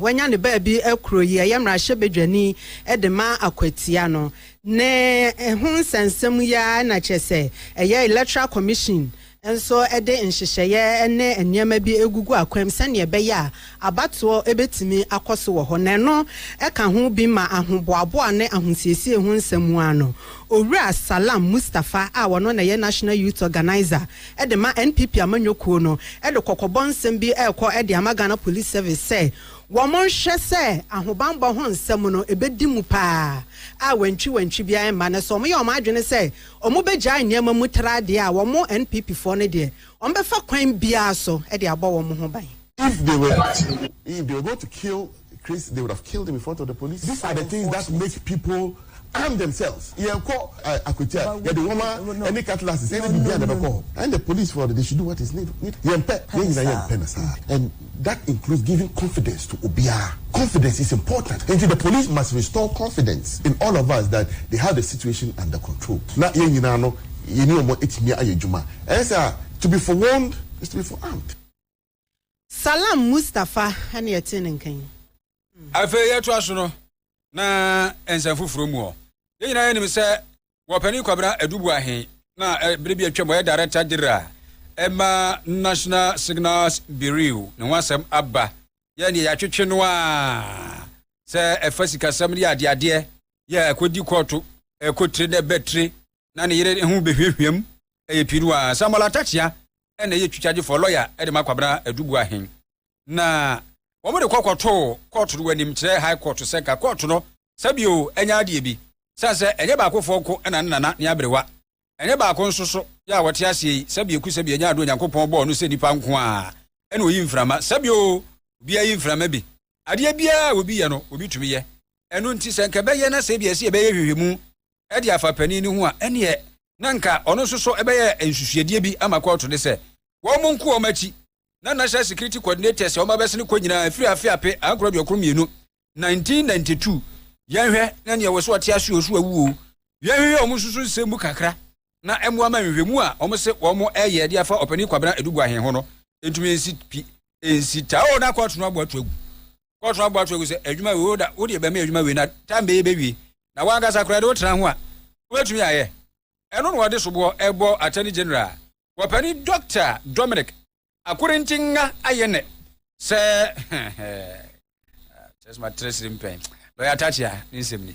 Wanya ne baabi kuro yi ɛyɛ mmarahyɛbadwani de ma Akwatia no. Ne ho nsɛnsɛm yi ara na kyerɛ sɛ ɛyɛ Electoral Commission nso de nhyehyɛeɛ ne nneɛma bi gugu akwam sɛdeɛ ɛbɛyɛ a abatoɔ bɛtumi akɔ so wɔ hɔ. Na ɛno ka ho bi ma ahoboaboa ne ahosiesie ho nsɛm mu ara no, Owura Salam Mustapha a ɔno na ɛyɛ National Youth Organiser de ma NPP amanyɔ kuo no de kɔkɔbɔ nsɛm bi rekɔ de ama Ghana Police Service sɛ wɔnhwɛ sɛ ahobanbɔ ho nsɛm no ɛbɛdi mu pa ara a wantwi wantwi biara remma na sɛ wɔyɛ wɔn adwene sɛ wɔbɛgyae nneɛma mu tra deɛ a wɔn NPP foɔ no deɛ wɔbɛfa kwan biara so de abɔ wɔn ho ban. If they were to, if they were going to kill Chris they would have killed him in front of the police. These are the things that make people arm themselves. Yɛn kɔ akwatia yɛde nwoma ɛne cutlass sɛ ɛne bibi a na bɛkɔ hɔ and the police for they should do what is need. Yɛn pɛ yɛn nyinaa yɛn pɛ na saa and that includes giving confidence to obiara. Confidence is important nti the police must restore confidence in all of us that they have the situation under control na yɛn nyinaa no yɛne wɔn atumi ayɛ adwuma ɛnyɛ sɛ a to be forewarned is to be forearmed. Salam Mustafa ne ɛtee ne nka yi. Afei yɛtoa so no na nsɛm foforɔ mu hɔ. Yɛn nyinaa yɛnim sɛ wɔpanin Kwabena Adubuahe na berɛ bi atwam ɔyɛ Director General ɛma National Signals Bureau ne ho asɛm aba. Yɛn deɛ yɛatwetwe no a sɛ ɛfa sikasɛm ne adeadeɛ yɛ ɛkɔdi kɔɔto ɛkɔtire na ɛbɛtire na ne yere ho bɛhwiahwiam ɛyɛ pii no a, Samuel Atakyea na ɛyɛ twitwagyefɔɔ, lawyer, de ma Kwabena Aduboahen. Na wɔde kɔ kɔtoo kɔɔto no wɔ anim kyerɛ High Court sɛ nka kɔɔto no sɛ bio ɛnyɛ adeɛ bi. Sane sɛ ɛnyɛ baakofoɔ nko na ne nana ne aberewa, ɛnyɛ baako nso so yɛ a wɔte aseɛ yi, sɛ bio ku sɛ bio ɛnyɛ adeɛ Onyankopɔn bɔɔ no sɛ nipa nko ara na ɔyi mframa, sɛ bio obiara yi mframa bi. Adeɛ biara a obi yɛ no obi tumi yɛ. Ɛno nti sɛ nka ɛbɛyɛ na sɛ ebia ɛsɛ yɛbɛyɛ nhwehwɛmu de afa panin no ho a, ɛneɛ na anka ɔno nso so bɛyɛ nsusuadeɛ bi ama kɔɔto ne sɛ wɔn nko wɔn akyi na National Security Coordinators a wɔn abɛsene kɔ nyinaa ɛfiri afe ape ankoro aduokron mmienu 1992 yɛnhwɛ na nea wɔ sɛ ɔte ase o so awu o yɛnhwehwɛ wɔn nso so nsɛm mu kakra na ɛmmoa ma nhwehwɛmu a wɔn se wɔn ɛyɛ de afa ɔpanin Kwabena Aduguahe ho no ntumi nsi pi nsi ta o na kɔɔto no abɔ ato agu kɔɔ so aboa to agu sɛ adwuma wei woda wode bɛma adwuma wei na tam bɛyɛ bɛwie na wankasa koraa de wotena ho a wobɛtumi ayɛ ɛno na wɔde soboɔ ɛbɔ attorney general wɔpani Doctor Dominic Akorintingha ayɛ nɛ sɛ kyerɛ sɛ matrɛ siri mpɛn lɔya Takyea ne nsɛm ni.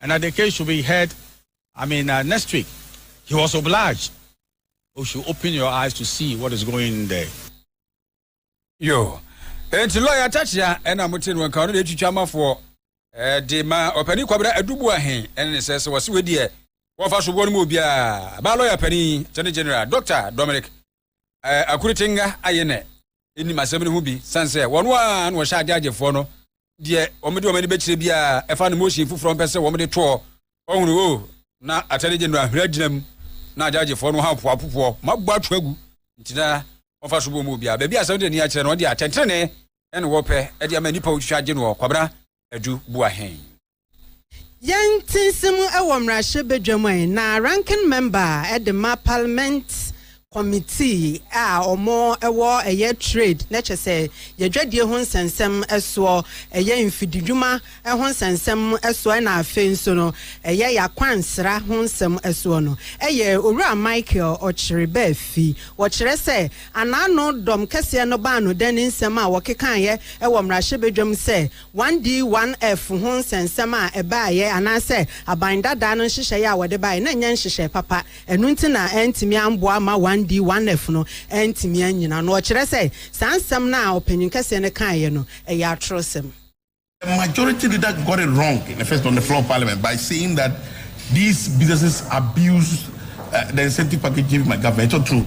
and the case should be heard i mean uh, next week he was obliged you should open your eyes to see what is going in there yo enti lɔya takyea ɛna mote no nka ɔno deɛ ɛtwitwa amafoɔ de ma ɔpani kwabena adubu ahen ɛne ne sɛ sɛ wɔse wei deɛ wɔmfa soboɔ no mu obiaa baa lɔya pani attorney general dr dominic Akurutsenga ayɛ na enim asɛm no ho bi san sɛ wɔn a na wɔhyɛ agyaagyefoɔ no deɛ wɔde wɔn ani bɛkyerɛ biara ɛfa no motion foforɔ mpɛ sɛ wɔde toɔ ɔhunu o na attorney general hwere agyina mu na agyaagyefoɔ no ha poapopoɔ mabɔ ato agu nti na wɔfa so bɔ mu obiara baabi asɛm de ani akyerɛ no ɔde atɛntene ɛne wɔpɛ ɛde ama nipa otwitwa agye noɔ kwabena adu bua hɛn Yɛn te nsɛm wɔ mmarahyɛ badwam ɛ na ranking member de ma parliament committee a wɔn wɔ ɛyɛ trade na kyɛ sɛ yɛdwadie ho nsɛnsɛm soɔ ɛyɛ mfididwuma ho nsɛnsɛm soɔ ɛna afei nso no ɛyɛ yakwansra ho nsɛm soɔ no ɛyɛ owura Michael ɔkyere baafi wɔkyerɛ sɛ anaano dɔm kɛseɛ no baa no dɛn ne nsɛm a wɔkekaeɛ wɔ mmarahyɛ badwam sɛ 1D 1F ho nsɛnsɛm a ɛbaeɛ anaasɛ aban dadaa no nhyehyɛeɛ a wɔde baeɛ no nyɛ nhyehyɛe papa, ɛno nti na antumi amboa ma 1D 1F no antumi annyina no. Ɔkyerɛ sɛ saa nsɛm no a ɔpanyin kɛseɛ no kaeɛ no, ɛyɛ atorɔsɛm. A majority leader got it wrong in the first on the floor of parliament by saying that these businesses abused the incentive package given by government, ɛtɔ two.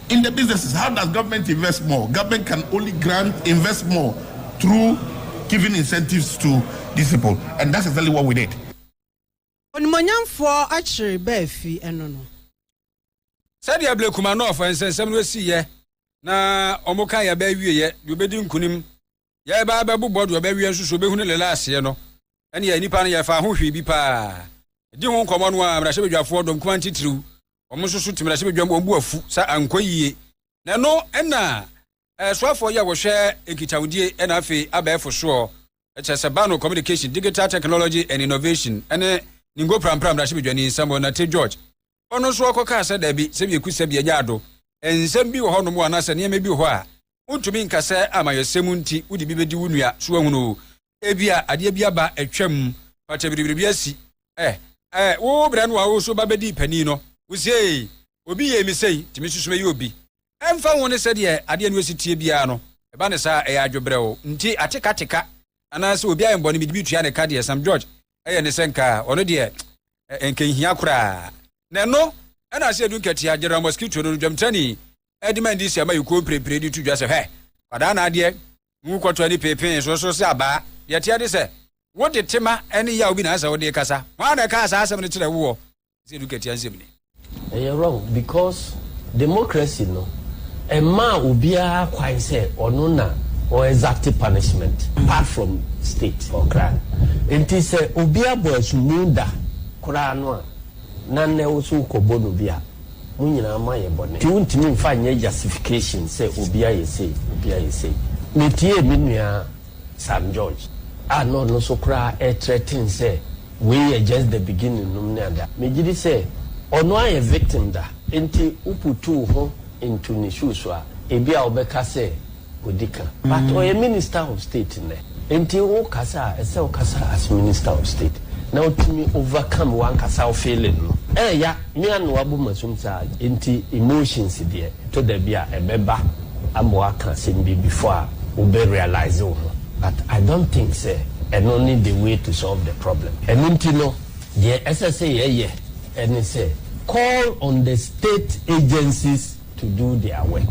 In the businesses how does government invest more, government can only grant invest more through giving incentives to these people and that's exactly what we did. Onimuonyamfoɔ akyere ba afi ɛno no. Sɛdeɛ Blake Kumanov nsɛnsɛm no sii yɛ na wɔn kan yɛ bɛ awie yɛ deɛ ɔbɛdi nkunim yɛreba abɛbobɔ deɛ ɔbɛwea nso so bɛhunu lela aseɛ no, ɛneɛ nnipa no yɛfaa ho hwee bi paa. Ɛdi ho nkɔmmɔ no a mmarahyɛbadwafoɔ dɔm kumaa ntitiriw, wɔn nso so te mmarahyɛbadwam wɔn bo afu sa ankɔ yie. Na ɛno na ɛsoafoɔ yi a wɔhwɛ nkitahodie ɛna afei abɛɛfo soɔ kyerɛ sɛ Bano Communication, Digital Technology and Innovation ɛne Ningo Prampra mmarahyɛbadwani Samuel Nartey George ɔno nso ɔkɔkaa sɛ, Dabi, sɛ bieku sɛ bia nyɛ ado. Nsɛm bi wɔ hɔnom o, anaasɛ nneɛma bi wɔ hɔ a wontumi nka sɛ amayɛsɛm nti wode bi bɛdi wo nua, so woahunu o, ebia adeɛ bi aba atwam, fata biribiri bi asi, eh, eh, wo berɛ no a wo nso ba bɛdii panin no, wosiee, obi yɛɛ me sei, nti me nso so mɛyɛ obi. Ɛmfa ho ne sɛdeɛ adeɛ no asi teɛ biara no, ɛba no saa a, ɛyɛ adwobrɛw nti atekateka anaasɛ obi ayɛ me bɔne mede bi tua ne ka deɛ Sam George yɛ ne sɛ nka ɔno deɛ nka ɛnhia koraa. Na ɛno na ase adu nkatia General Mosquito no dwamtrani de ma ndc ama ayukuo mprempren de to dwa sɛ hwɛ kwadaa na adeɛ ngu kɔtɔ ani peepee so so sɛ abaa. Deɛ ɛteɛ ne sɛ, wode tema ne yaw bi na ɛsɛ sɛ wode kasa. Hwan na ɛkaa saa asɛm no kyerɛɛ woɔ? sɛ edu katua nsɛm ni. Ɛyɛ wrong because democracy no ɛmaa obiara kwan sɛ ɔno na ɔ exact punishment apart from state for crime nti sɛ obi abɔ asumu da koraa no a na nnɛ wo so wokɔ bɔ no bi a mo nyinaa mo ayɛ bɔne nti wontumi mfa nyɛ justification sɛ obi ayɛ sei obi ayɛ sei metiee me nua Sam George a na ɔno nso koraa ɛɛtrɛten sɛ wei yɛ just the beginning nom ne ada. Megyedi sɛ ɔno ayɛ victim da. Nti woputu wo ho into ne shoes a, ebia wobɛka sɛ odi ka. But ɔyɛ Minister of State nnɛ. Nti wokasa a, ɛsɛ wokasa as Minister of State na wotumi overcome wankasa wo feeling no. Ɛɛya me anoa bo masum saa. Nti emotions deɛ ɛtɔ da bi a ɛbɛba. ama waka asɛm bi before a wo bɛ realise wo ho but I don't think sɛ ɛno ne the way to solve the problem. Ɛno nti no deɛ ɛsɛ sɛ yɛ yɛ ɛne sɛ call on the state agencies to do their work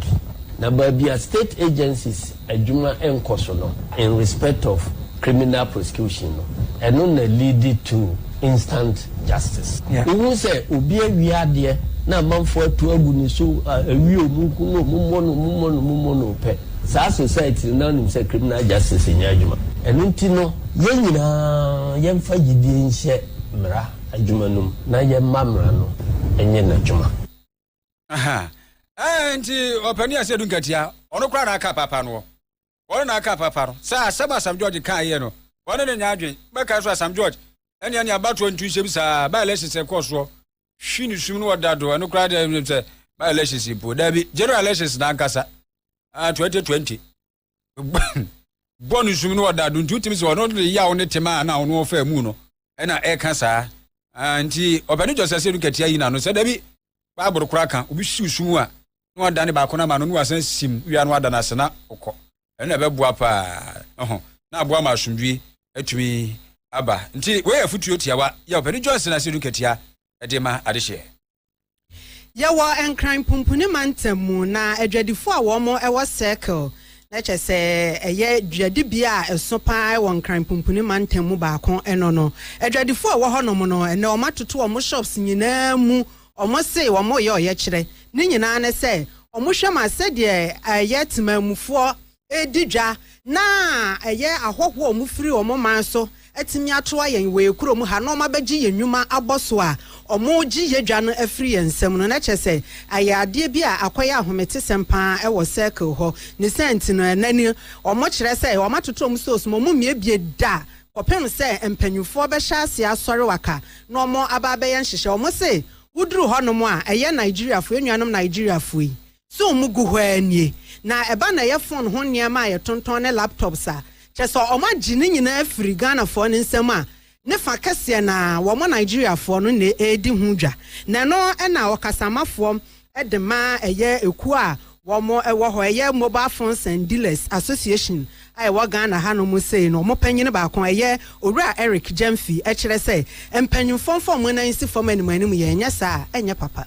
na baabi a state agencies adwuma nkɔ so no in respect of Criminal prosecution no, ɛno na leadi to instant justice. Wohu sɛ obi awie adeɛ na amanfoɔ atu agu ne so, awie a ɔmo nku no, ɔmo mmɔ no, ɔmo mmɔ no, ɔmo mmɔ no pɛ. Saa society no, na wonim sɛ criminal justice nyɛ adwuma. Ɛno nti no, yɛn nyinaa yɛmfa gyidie nhyɛ mmara adwuma no mu na yɛmma mmara no nyɛ n'adwuma. Aha. Ɛɛ nti ɔpanin a sɛ du nkatia ɔno koraa na aka paapa no ɔno na aka paapa no sɛ asɛm Asam George kaa yɛ no ɔne ne nya adwen bɛka nso Asam George ɛnea ne abatoɔ ntu nhyɛ bi saa by elections ɛkɔɔ soɔ hwi ne sum no ɔda do ɛno koraa deɛ sɛ by elections mpo daabi general elections na ankasa 2020 bɔ no sum no ɔda do nti wotumi sɛ ɔno de yaw ne tema a na ɔno ɔfa mu no ɛna ɛka saa nti ɔpɛne gyɔsɛ sɛ no katia yi na no sɛ da bi baaboro kora ka obi siw sum a na wada ne baako no ama no na wasan sim wia no ada no ase na ɔkɔ ɛno ɛbɛboa paa ɛho na aboa ma asomdwie atumi aba nti wei yɛ fotuo tiawa yɛ ɔpɛne gyɔsɛ na sɛ no katia ɛde ma adehyeɛ Yɛwɔ Nkran Pumpuni Mantam mu na adwadifo a wɔn wɔ Circle, na kyɛ sɛ ɛyɛ dwadibea a ɛso paa wɔ Nkran Pumpuni Mantam mu baako no no. Adwadifo a ɛwɔ hɔnom no, ɛnɛ wɔn atoto wɔn shops nyinaa mu. Wɔn se wɔn reyɛ ɔyɛkyerɛ. Ne nyinaa ne sɛ wɔn hwɛ ma sɛdeɛ ɛyɛ temanmufoɔ redi dwa na ɛyɛ ahɔhoɔ a wɔfiri wɔn man so atumi ato ayɛn wɔ yɛn kurom ha na wɔabɛgye yɛn nnwuma abɔ so a wɔregye yɛn dwa no afiri yɛn nsam no, na kyerɛ sɛ ayɛ adeɛ bi a akɔyɛ ahometesɛm pa ara wɔ circle hɔ. Ne saa nti no, ɛnnɛ ni wɔkyerɛ sɛ wɔatoto wɔn stores ma wɔmmiebie da kɔpem sɛ mpanimfoɔ bɛhyɛ aseɛ asɔre waka na wɔaba abɛyɛ nhyehyɛe. Wɔse woduru hɔnom a, ɛyɛ Nigeriafoɔ, yɛn nuanom Nigeriafoɔ yi So wɔn gu hɔ ara nie? Na ɛba na ɛyɛ phone ho nneɛma a yɛtontɔn ne laptops a, kyerɛ sɛ wɔn agye ne nyinaa afiri Ghanafoɔ no nsam a, ne fa kɛseɛ no ara, wɔn Nigeriafoɔ no na ɛredi ho dwa. Na ɛno na ɔkasamafoɔ de ma ɛyɛ ekuo a wɔn wɔ hɔ, ɛyɛ Mobile Phones and Dealers Association a ɛwɔ Ghana hanom sei no, wɔn panyin baako, ɛyɛ Owura Eric Gyamfi kyerɛ sɛ, mpanyimfoɔ mfa wɔn nan nsi fam anim anim yɛ, ɛnyɛ saa a, ɛnyɛ papa.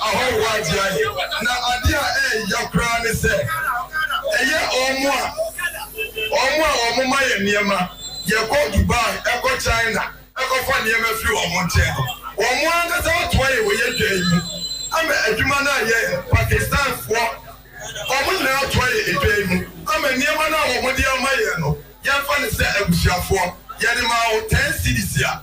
ahɔho ade ayɛ. Na ade a ɛyɛ ya koraa ne sɛ, ɛyɛ wɔn a wɔn a wɔma yɛn nneɛma, yɛkɔ Dubai, kɔ China kɔfa nneɛma firi wɔn nkyɛn no, wɔn ankasa atoa yɛn wɔ yɛn dwa yi mu ama adwuma no ayɛ. Pakistanfoɔ, wɔn nyinaa atoa yɛn edwa yi mu ama nneɛma no a wɔde ama yɛn no, yɛmfa no sɛ abusuafoɔ, yɛde maa wo ten cedis a.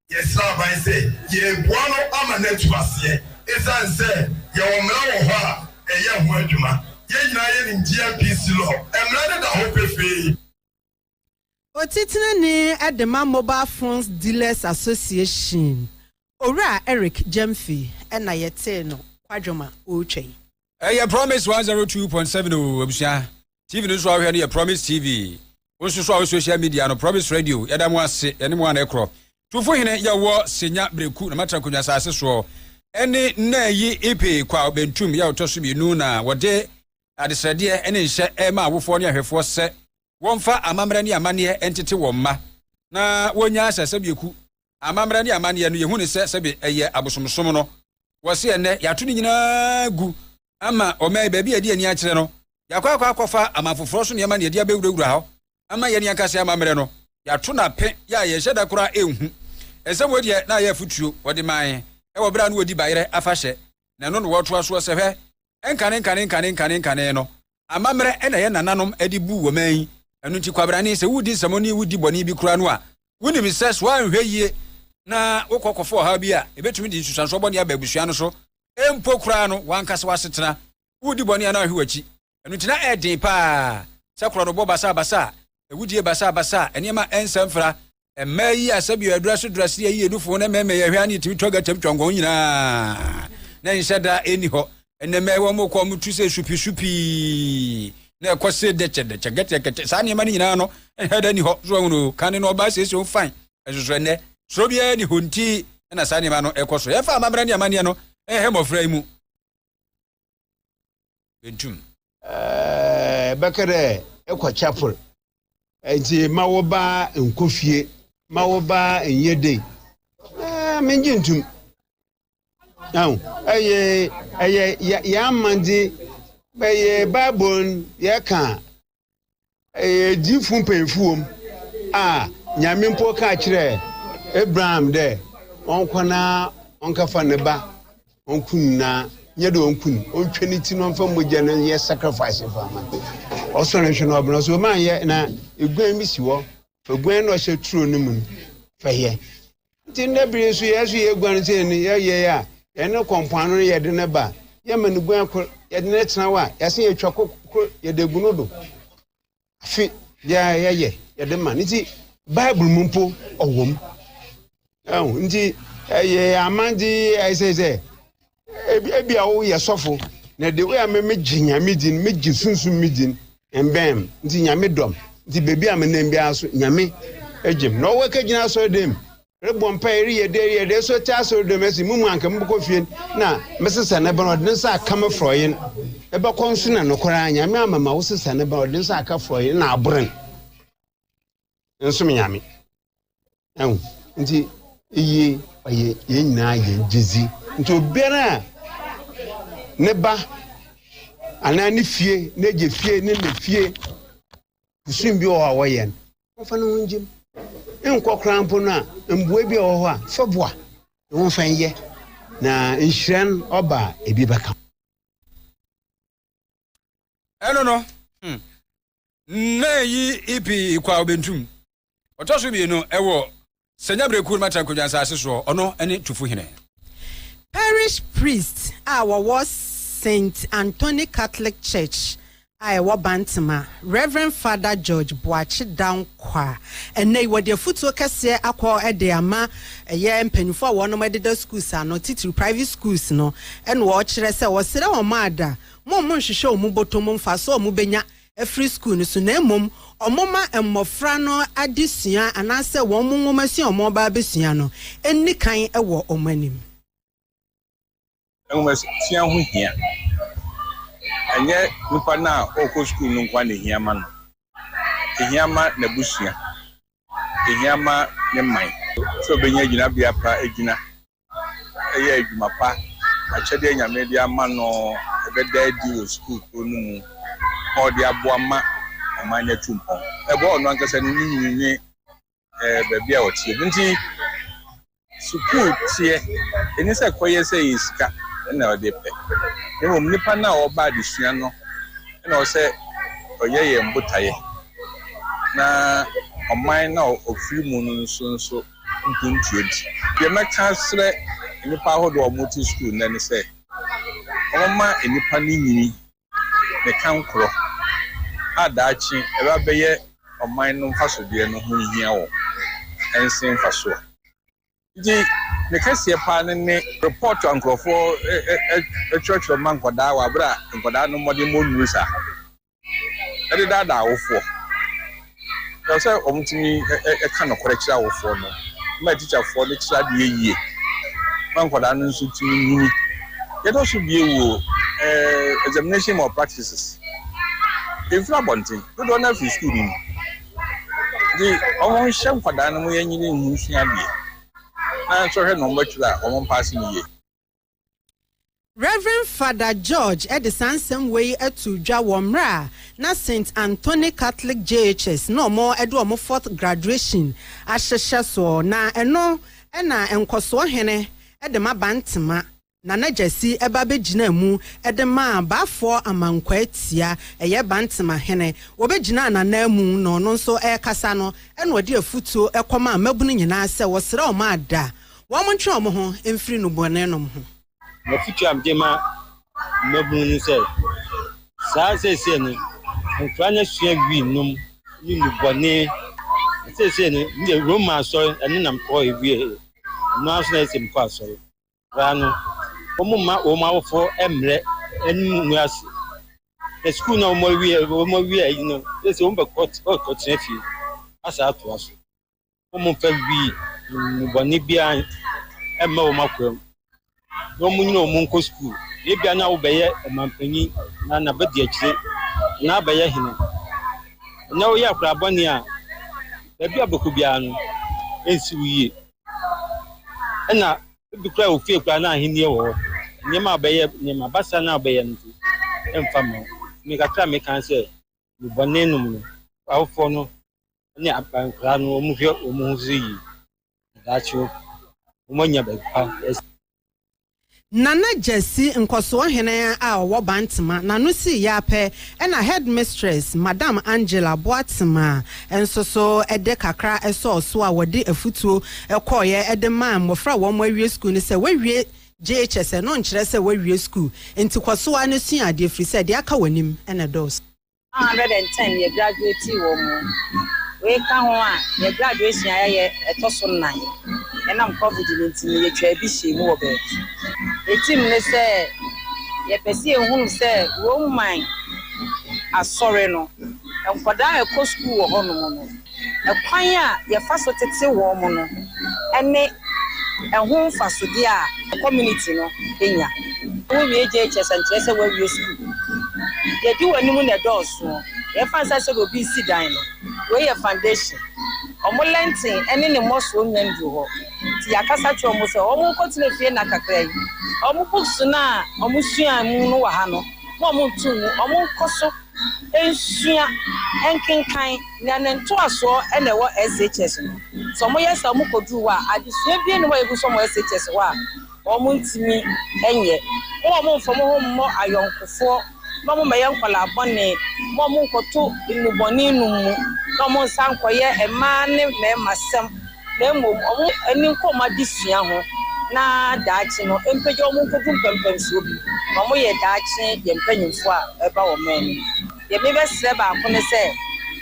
Yɛsrɛ aban sɛ yɛreboa no ama no atu aseɛ ɛsiane sɛ yɛwɔ mmara wɔ hɔ a ɛyɛ ho adwuma. Yɛn nyinaa yɛnim GMPC law. Mmara no da hɔ pefee. Otitenani de ma Mobile Phones Dealers Association, Owura Eric Gyamfi na yɛtee no kwadwom a ɔretwa yi. ɛyɛ promise 102.7 o abusua tv no nso a wohwɛ no yɛ promise tv wo nso so a wo social media no promise radio yɛda mo ase yɛne mo ana ɛkorɔ tufo hene yɛwɔ senya breku na matra konwa asase soɔ ɛne nna yi ipe kwa bentum yɛ ɔtɔ so mmienu na wɔde adesrɛdeɛ ɛne nhyɛ ɛma awofoɔ ne ahwɛfoɔ sɛ wɔmfa amammerɛ ne amanneɛ ntete wɔn mma na wɔnya asɛsɛ bieku amammerɛ ne amanneɛ no, yɛhu no sɛ sɛbe ɛyɛ abosomsom no. Wɔse ɛnnɛ yɛato ne nyinaa gu ama ɔman yi, baabi a ɛde ani akyerɛ no, yɛakɔ akɔ akɔfa aman foforɔ so nneɛma na yɛde abɛwurawura hɔ ama yɛn ankasa amammerɛ no, yɛato no ape yɛ a yɛnhyɛ da koraa nhu. Nsɛm wei deɛ, na ayɛ afotuo wɔde mae wɔ berɛ a na wɔdi bayerɛ afahyɛ, na ɛno na wɔtoa soɔ sɛ, Hwɛ, nkane nkane nkane nkane nkane no, Amammerɛ na yɛn nananom de buu wɔn man yi. Ɛno nti, kwabrane, sɛ woredi nsɛmmɔne, wodi bɔne bi koraa no a, wonim sɛ so anhwɛ yie na wokɔ kɔfa ɔhaw bi a, ɛbɛtumi de nsusuansoɔ bɔne aba abusua no so mpo koraa no, w'ankasa w'asetena. Woredi bɔne a na woanhwɛ w'akyi. Ɛno nti, na ɛyɛ den pa ara sɛ korɔnobɔ basabasa, awudie basabasa, nneɛma a ɛnsɛ mfra, Mmaa yi a sɛbi ɔyɛdora so dora se yɛ yie nufo na mmarima yɛ hwɛ ani tumi twa gata twa nkɔn nyinaa na nhyɛ da ɛni hɔ ɛnɛ mmaa yi wɔn kɔ wɔn tu sɛ supi supi na ɛkɔ se dɛkyɛ dɛkyɛ gɛtɛ gɛtɛ saa nneɛma no nyinaa no ɛhɛ da ni hɔ so wɔn no kan no ɔbaa siesie wɔn fan ɛsoso ɛnɛ soro biara ni hɔ nti ɛna saa nneɛma no ɛkɔ so yɛfa amammerɛ ne amanneɛ no ɛhɛ mmɔfra yi mu. bedum. Ɛɛ, bɛka dɛ ekɔ chapel, ntsi ma wo ba nkɔ fie, ma wo ba nyɛ dei. Ɛɛ, menngye ntum. Ahu, ɛyɛ, ɛyɛ yɛn amandze, bɛyɛ Bible no yɛka a, Ɛyɛ gyidifo mpanyimfo wom a Nyame mpo kaa kyerɛɛ Abraham dɛ ɔnkɔ na ɔnkɛfa ne ba ɔnku no, na nyɛ dɛ ɔnku no, ɔntwa ne ti na ɔmfa mogya no nyɛ sacrifice mfa mma no. Ɔsɔɔ no hwɛ na ɔbena so, ɔma yɛ, na eguan bi si hɔ, fa guan no a ɔhyɛ turo no mu no fa yɛ. Enti nnɛ bere yi nso, yɛn nso yeguan sɛ yɛn yɛyɛ a yɛne kɔ mpoano no yɛde no ba a, yɛma no guan kor, yɛde no tsena hɔ a, yɛsan yɛtwa kor kor yɛde gu no do. Afe biara yɛyɛ, yɛde ma no. Ntsi Bible mu mpo ɔwɔ mu. Ntsi yɛyɛ amandze ayɛ sɛ Ebi a woyɛ sɔfo na de woyɛ me megye nyame din megye sunsun me din mbɛn nti nyame dɔm nti beebi a menam biara so nyame gyem na ɔwɔ kagyina asɔre dɛm rebɔ mpa ereyɛ dɛ ereyɛ dɛ so te asɔre dɛm ɛsi mu mu anka mobɛkɔ fie na mesesa ne bɛn ɔde ne nsa aka me frɔyen ɛbɛkɔ nso na nokwara nyame amama wo sesa ne bɛn ɔde ne nsa aka frɔyen na aboren nsom nyame ɛho nti eye ɔyɛ yɛn nyinaa yɛn gyedzi nti obiara a ne ba anaa ne fie n'agya fie ne ne fie kusum bi wɔ hɔ a wɔyɛ no wɔmfa ne ho ngyem nkɔ koraa mpo no a mboa bi a wɔ hɔ a fa boa ne ho mfa nyɛ na nhyira no ɔba a ebi bɛka ɛno no hmm, na ɛyi ipi ikwa obentum ɔtɔ so mmienu ɛwɔ sɛnya berɛkuo no matra nkwadwa nsase soɔ ɔno ne tufo hene parish priest a wɔwɔ st anthony catholic church a ɛwɔ bantama reverend father george boakye kwa. Ɛnnɛ yi wɔde afutuo kɛseɛ akɔ de ama ɛyɛ mpanyinfoɔ a wɔnom ɛdeda schools ano titiri private schools no ɛna wɔkyerɛ sɛ wɔsrɛ wɔn ada mo wɔn nhwehwɛ wɔn botom mfasoɔ a wɔn bɛnya afiri school no so na mmom wɔn ma mmɔfra no ade sua anaasɛ wɔn nwomasua a wɔn ba abɛsua no nni kan wɔ wɔn anim. Nhomasua ho hia. Ɛnyɛ nipa no a ɔrekɔ sukuu no nko ara na ehia ma no. Ehia ma n'abusua. Ehia ma ne man sɛ obenya gyinabea pa agyina ɛyɛ adwuma pa. Akyɛdeɛ Nyame de ama no ɛbɛda adi wɔ sukuu koro no mu ma ɔde aboa ma ɔman no atu mpɔn. Ɛboa ɔno ankasa ne ne nwini ne eh, baabi a ɔteɛ mu nti sukuu teɛ ɛni sɛ kɔyɛ sɛ yɛ sika na ɔde pɛ na mmom nipa no a ɔba adesua no na ɔsɛ ɔyɛ yɛn botaeɛ na ɔman na ɔfiri mu no nso nso mpuntuo di deɛ mɛka serɛ nnipa ahodoɔ a wɔte sukuu nnɛ ne sɛ wɔma nnipa no nyini ne kankorɔ a daakye ɛbɛ abɛyɛ ɔman no mfasodeɛ no ho hia wɔn ɛnse mfasoɔ. Nti ne kɛseɛ paa no ne report a nkorɔfoɔ twerɛtwerɛ ma nkwadaa wɔ aberɛ a nkwadaa no mmɔdemmɔ nnuru saa, ɛde daadaa awofoɔ. Ɛwɔ sɛ wɔtumi ka nokorɛ kyerɛ awofoɔ no ma atikyafoɔ no kyerɛ adeɛ yie ma nkwadaa no nso tumi nyini. Deɛ ɛtɔ so bio wɔ examination malpractices, ɛmfiri abɔnten, dodoɔ no ara firi sukuu no mu. Nti wɔnhyɛ nkwadaa no ma wɔnyini nhu nsua adeɛ na nso hwɛ na wɔatwerɛ a wɔmpaase no yie. Rev. Fada George de saa nsɛm wei too dwa wɔ mmerɛ a na Saint Anthony Catholic JHS na wɔde wɔn fourth graduation ahyehyɛ soɔ, na ɛno na Nkɔsoɔ Hene de ma Bantema Nana Gyasi ba bɛgyinaa mu de maa Baafoɔ Amankwaa Tia, ɛyɛ Bantema Hene, wɔbɛgyinaa n'ananmu na ɔno nso rekasa no na ɔde afutuo kɔmaa mmabunu nyinaa sɛ wɔsrɛ wɔn ada Wɔntwe wɔn ho mfiri nnubɔnenom ho. M'afotuo a mede ma mmabunu ne sɛ, saa seesei no, nkwadaa no asua wii nom ne nnubɔne. Na seesei no, me deɛ Roma asɔre, ɛno na mekɔ awieeɛ. Ɛno ara nso na ɛsɛ mekɔ asɔre. Nkwadaa no, wɔmma wɔn awofoɔ mmrɛ anim ngu ase. Na sukuu no a wɔawie ayi no, seesei wɔbɛkɔ, wɔbɛkɔtena fie asa atoa so. wɔmmfa nwi nnubɔne biara mmɛ wɔn akwaa mu, na wɔnyini wɔn nkɔ sukuu. Ebia na wobɛyɛ ɔmampanyin na na bedi akyire na abɛyɛ hene. Na woyɛ akwadaa bɔne a, baabi a wobɛkɔ biara no, ensi wo yie. Ɛna ebi koraa wɔ fie koraa na ahenni wɔ hɔ. Nneɛma a wobɛyɛ, nneɛma basaa no a wobɛyɛ no nso, ɛmfa mma wo. Tumi kakra a meka ne sɛ, nnubɔne nom no, awofoɔ no ne aban nkwadaa no wɔn hwɛ wɔn ho so yie daakye wɔn anya baabi pa asi. Nana Gyasi, nkɔsoɔhene a ɔwɔ Bantama, n'ano sii yɛ ara pɛ na Headmistress, Madam Angela Boatema, nso so de kakra sɔɔ so a wɔde afutuo kɔeɛ de maa mmɔfra a wɔawie sukuu no sɛ woawie JHS no nkyerɛ sɛ woawie sukuu, enti kɔ so ara na sua adeɛ ɛfiri sɛ deɛ aka w'anim na ɛdɔɔso. 110 yɛ graduatii wɔ mu. Wei ka ho a, yɛn graduation a yɛayɛ ɛtɔ so nnan. Ɛnam covid no nti no, yɛtwaa bi hyɛɛ mu wɔ baabi. Yɛn tirim ne sɛ yɛpɛ sɛ yɛhunu sɛ Roman Asɔre no, nkwadaa a ɛkɔ sukuu wɔ hɔnom no, Kwan a yɛfa so tete wɔn no ne ɛho mfasodeɛ a community no nya. Wowie JHS a nkyerɛ sɛ woawie sukuu. Deɛ ɛdi wɔn anim no na ɛdɔɔso. Deɛ ɛfa nsa sɛdeɛ obi resi dan no, wei yɛ foundation. Wɔn lɛnten ne ne mmɔsoɔ nnya nnuru hɔ. Nti yɛakasa akyerɛ wɔn sɛ wɔnkɔtena fie nna kakra yi. Wɔn books no a wɔsuaa mu no wɔ ha no, mma wɔnnto ngu. Wɔnkɔ so. Nsua, nkenkan, na ne ntoasoɔ na ɛwɔ SHS no. Sɛ wɔyɛ saa a wɔkɔduru hɔ a, adesua biara nni hɔ a yɛgu so wɔ SHS hɔ a wɔntumi nyɛ. Momma mommfa mo ho mmɔ ayɔnkofoɔ, na mommɛyɛ nkwadaa bɔne, momma monnkɔto nnubɔne nom mu, na monsan nkɔyɛ mmaa ne mmarima sɛm. na mmom wɔn ani nkɔ wɔn adesua ho na daakye no ɛmpagya wɔn nkɔdu mpɛmpɛnsoɔ bi na wɔyɛ daakye yɛ mpaninfoɔ a ɛba wɔ man no mu. Deɛ mebɛsrɛ baako ne sɛ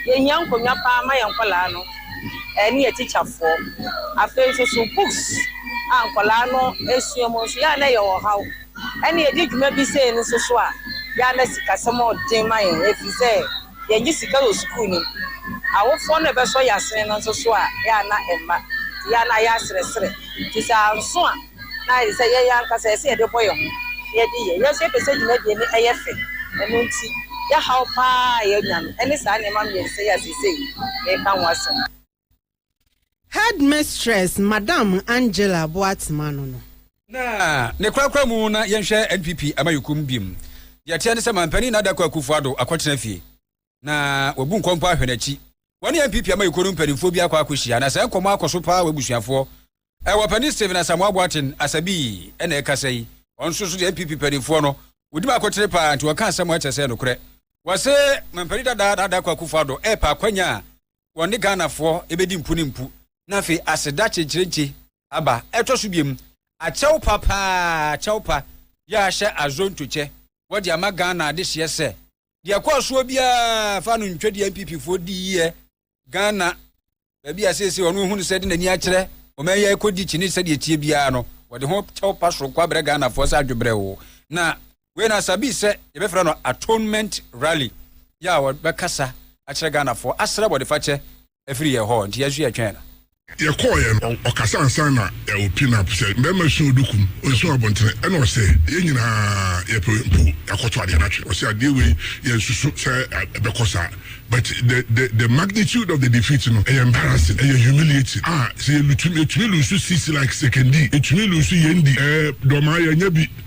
yɛhia nkonnwa paa ma yɛn nkwadaa no ne yɛn atikyafoɔ. Afei nso so books a nkwadaa no sua mu nso yɛ a na ɛyɛ ɔhaw ɛne yɛdi dwuma bi sei no nso so a yɛ a na sikasɛm yɛ den ma yɛn ɛfiri sɛ, yɛnye sika wɔ skuul no mu. Awofoɔ no bɛsɔ yɛ asene no nso so a, yɛ a na ɛmma. Nti yɛ a na ayɛ aserɛserɛ. Nti sɛ anso a, na ayɛ te sɛ yɛn ankasa yɛsɛ yɛde bɔ yɛ ho na yɛde yɛ. Yɛ nso yɛpɛ sɛ dwumadie no ɛyɛ fɛ. Ɛno nti, yɛ haw pa ara a yɛnya no, ɛne saa nneɛma mmiɛnsa yi a seesei mereka ho asɛm yi. Headmistress Madam Angela Boatsema ano no. Na ne korakora mu na yɛnhwɛ NPP Amanyɔkuom biom. Deɛ ɛteɛ ne sɛ Manpanin Nana Dankwa Akufo-Addo akɔtena fie. Na wabu nkɔ mpo ahwɛ n'akyi. Wɔne NPP Amanyɔkuo no mpanimfoɔ bi akɔ akɔhyia na saa nkɔmmɔ akɔ so paa wɔ abusuafoɔ Ɛwɔ panin Stephen Asamoah Boateng Asabi na ɛkasa yi. Ɔno nso so deɛ NPP paninfoɔ no, wɔdi mu akotere paa nti wɔka nsɛm a ɛkyɛ sɛ nokorɛ. Wɔse mampanin dada Nana Dankwa Akufo Addo ɛɛpɛ akwanya a wɔne Ghanafoɔ ɛbɛdi mpu ne mpu. Na afei aseda kyenkyerenkye aba ɛtɔ so biom. Akyɛw pa paa, kyɛw pa, yɛahyɛ Azonto kyɛ wɔde ama Ghana adehyeɛ sɛ, deɛ ɛkɔɔ soɔ biara fa no ntwa deɛ NPPfoɔ diiɛ ghana baabi a seesei ɔno ehu no sɛ de n'ani akyerɛ ɔman yi akɔdi kyini sɛdeɛ tie biara no wɔde ho kyɛw pa soronko abrɛ ghanafoɔ sɛ adwebrɛ o na wei na sabi sɛ yɛbɛfrɛ no atonement rally yɛ a wɔbɛkasa akyerɛ ghanafoɔ asrɛ bɔdefakyɛ afiri yɛ hɔ nti yɛso yɛtwɛn no Yɛkɔɔeɛ no, ɔkasa ansa na yɛawo Pinap sɛ mmarima suo dukum, ɔnsuo abontene, ɛna ɔsɛ yɛn nyinaa yɛpɛ mpo yɛakɔtɔ adeɛ no atwe. Ɔsɛ adeɛ wei yɛnsusu sɛ ɛbɛkɔ saa but the the the magnitude of the defeat no ɛyɛ embarrassing, ɛyɛ humiliating a sɛ yɛlutu yɛtumi lusu sisi like Sekondi, yɛtumi lusu Yendi, ɛɛ dɔmaa yɛanya bi.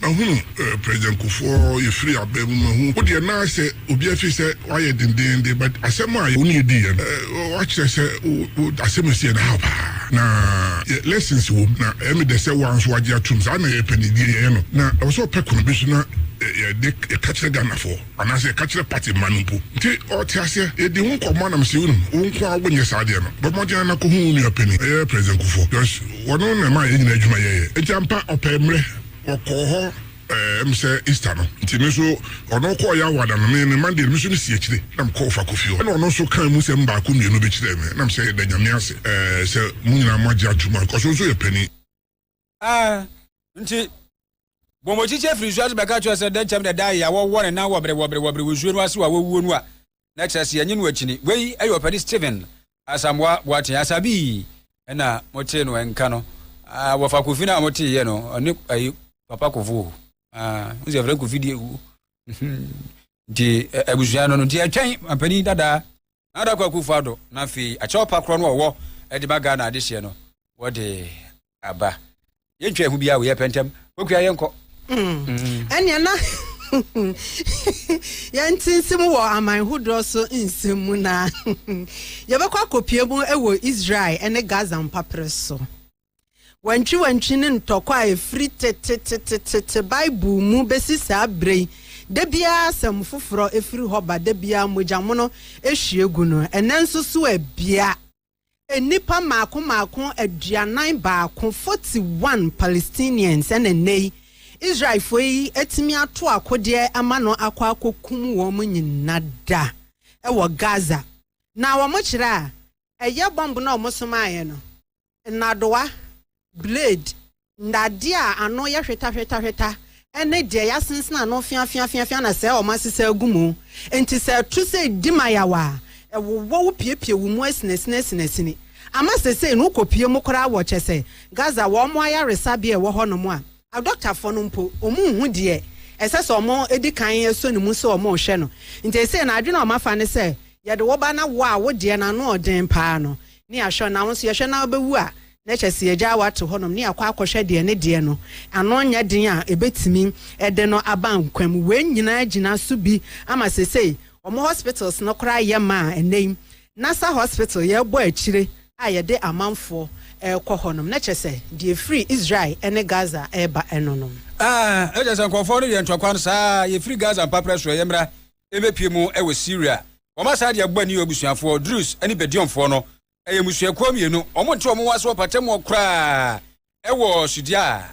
Mahu President Kufuor yɛfiri abɛ mu mahu wo deɛ na sɛ obi afiri sɛ wayɛ dendeenden but asɛm a wo ne yɛ diiɛ no wakyerɛ sɛ wo asɛm a ɛsiiɛ no ahaw paa na yɛ lessons wɔ mu na ɛyɛ me dɛ sɛ wo ara nso wagye atom saa na yɛpɛ no deɛ yɛyɛ no na ɛwɔ sɛ ɔpɛ kwan bi so na yɛde yɛka kyerɛ Ghanafoɔ. Anaasɛ ka kyerɛ party mma no mpo. Nti ɔte aseɛ. Yɛdi ho nkɔmmɔ anam sɛ wonim wo nko ara wonyɛ saa adeɛ no. Bɔ mmɔden ara kɔhu wo nua panin, ɛyɛ President Kufuor, Josh, ɔno na ɛmaa yɛn nyinaa adwuma yɛeɛ. Nti ampa ɔpɛɛ mmerɛ, wɔkɔɔ hɔ ɛɛ ɛm sɛ Easter no. Nti me nso ɔno kɔɔ yɛn awoada no, me me Monday no me nso me si akyire na me kɔɔ Fako fie hɔ. Ɛna ɔno nso kaa emu sɛm baako mmienu bi kyerɛɛ me, na me sɛ yɛda Nyame ase ɛɛ sɛ mo nyinaa moagye atom ankɔ so nso yɛ panin. Ah, nti bɔmmɔkyikyi afiri nsuo ase bɛka kyerɛ sɛ dɛn kyɛm na ɛda yɛ wɔwɔ ne nan wɔbere wɔbere wɔbere wɔ nsuo no ase wɔ a wɔwuo no a na kyerɛ sɛ yɛnye no akyini wei ɛyɛ ɔpɛni Stephen Asamoah Boateng Asabii ɛna motee no ɛnka no ah, wɔfa kofi no a motee yɛ no ɔne ayi papa kofo ah, nsɛ frɛ kofi deɛ wuo Nti abusua no no, nti ɛtwɛn mampanin dadaa na adakɔ akufo ado na afei akyɛw pa korɔ no ɔwɔ ɛde ba Ghana adehyeɛ no wɔde aba. Yɛntwa ɛho biara wɔ yɛ pɛntɛm kɔkua yɛ nkɔ. Ɛnea na yɛnte nsɛm wɔ aman hodoɔ so nsɛm mu na yɛbɛkɔ akɔpie mu wɔ Israel ne Gaza mpaperɛ so. Wantwiwantwi ne ntɔkwa a ɛfiri tetetetete Bible mu bɛsi saa berɛ yi, da biara asɛm foforɔ firi hɔ ba, da biara mogyamono hwie gu no. Ɛnnɛ nso so ɛ? Bia. Nnipa mmaako mmaako aduanan baako, 41 Palestinians, ɛna ɛnnɛ yi Israelfoɔ yi atumi ato akodeɛ ama no akɔ akɔkum wɔn nyina da wɔ Gaza. Na wɔkyerɛ a, ɛyɛ bɔmb no a wɔsomaeɛ no. nnadewa, blade, nnadeɛ a ano yɛ hwetahwetahweta, ne deɛ yɛasensene ano feafeafeafea na sɛɛ wɔasesa agu mu. Enti sɛ ɛto sɛ ɛdi mayaw a, ɛwowɔ wo piepie wo mu asinasinasinasini. Ama seesei no wokɔpue mu koraa wɔ kyɛ sɛ Gaza wɔn ayaresabea a ɛwɔ hɔnom a adɔktafoɔ no mpo wɔnhu deɛ ɛsɛ sɛ wɔdi kan sɔ ne mu sɛ wɔrehwɛ no. Enti seesei no adwene a wɔafa ne sɛ yɛde wo ba na wo a wo deɛ no ano yɛ den paa no ne ahwɛ na wo nso yɛhwɛ na wobɛwu a, na kyɛ sɛ yɛgyaa wo ato hɔnom ne yɛakɔ akɔhwɛ deɛ ne deɛ no ano nyɛ den a ɛbɛtumi de no aba nkwa mu. Wei nyinaa gyina so bi ama seesei wɔn hospitals no koraa yɛ ma a ɛnnɛ yi Nasser Hospital yɛrebɔ akyire a yɛde amanfoɔ rekɔ hɔnom, na kyɛ sɛ deɛ ɛfiri Israel ne Gaza reba no nom. Ah, na kyɛ sɛ nkurɔfoɔ no yɛ ntɔkwa no saa ara, yɛfiri Gaza mpaprɛ so, ɛyɛ mmara. rebɛpue mu wɔ Siria. Wɔma saa deɛ ɛbɔ ani yɛ abusuafoɔ, Druze ne Bedionfoɔ no. Ɛyɛ mmusuakuo mmienu. Wɔnte wɔn ho ase wɔ mpatamuɔ koraa wɔ Sudiaa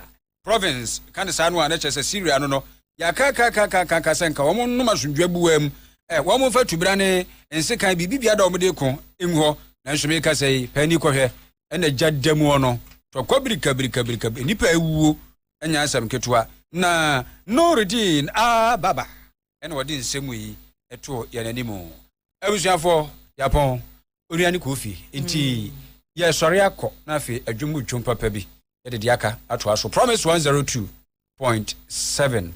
province, ka ne saa no a, na kyerɛ sɛ Siria no no yɛakaakaakaakaaka sɛ nka wɔn nnom asomdwoeɛ boa mu. Ɛ, wɔn mfa tubena ne nsekan biribibiara da wɔn de ko ngu hɔ. Nanso meka sɛ yi, pɛ ani kɔhwɛ, ɛna gya da mu ɔno. Tɔkwa birikabirikabirika, nnipa awuo, ɛnyɛ asɛm ketewa. Na Noredin Aa Baba. ɛna ɔde nsɛm yi ɛto yɛn anim. Abusuafo, yɛapɔn onua ne kofi, nti yɛsɔre akɔ na afei adwom mu dwom papa bi yɛde de aka atoa so. Promise 102.7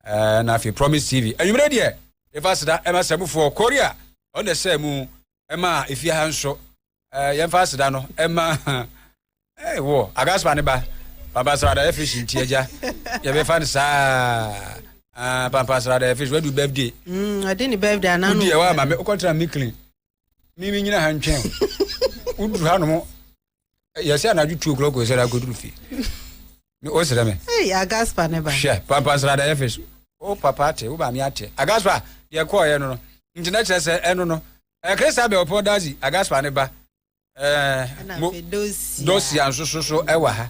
ɛna afei Promise TV. Anwummerɛ deɛ, yɛfa seda ɛma sɛmufoɔ Korea, ɔno na ɛsɛ mu ɛma efie ha nso ɛɛ yɛmfa aseda no ɛma ɛɛ wɔ agaspa ne ba pampasrada yɛ fish nti agya yɛbɛfa no saa ah, pampasrada yɛ fish wadu birthday mm, ɔde ne birthday anaa no wodi ɛwɔ ama me wokɔtra me clean me me nyina ha ntwɛn woduru ha nom yɛsɛ anadwo two o'clock sɛ da akɔduru fie wosrɛ me agaspa ne ba hwɛ pampa nsrada yɛfe so wo papa ate wo maame ate agaspa deɛ kɔɔyɛ no no nti na kyerɛ sɛ ɛno no krista bɛ ɔpɔ dazi agaspa ne ba dosia nso so so ɛwɔ ha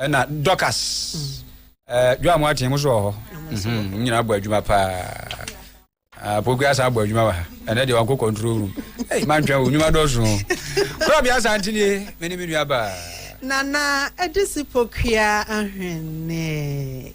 ɛna dɔkas dwa mo ateɛ mo so wɔ hɔ mhm, nyina abɔ adwuma paa pogua ah, asa abɔ adwuma wɔ ha ɛnɛ deɛ wankɔ control room ei mantwɛn wo nnwuma dɔso kora bia sa nteneɛ mene me nua baa nana ɛde si pokua ahwene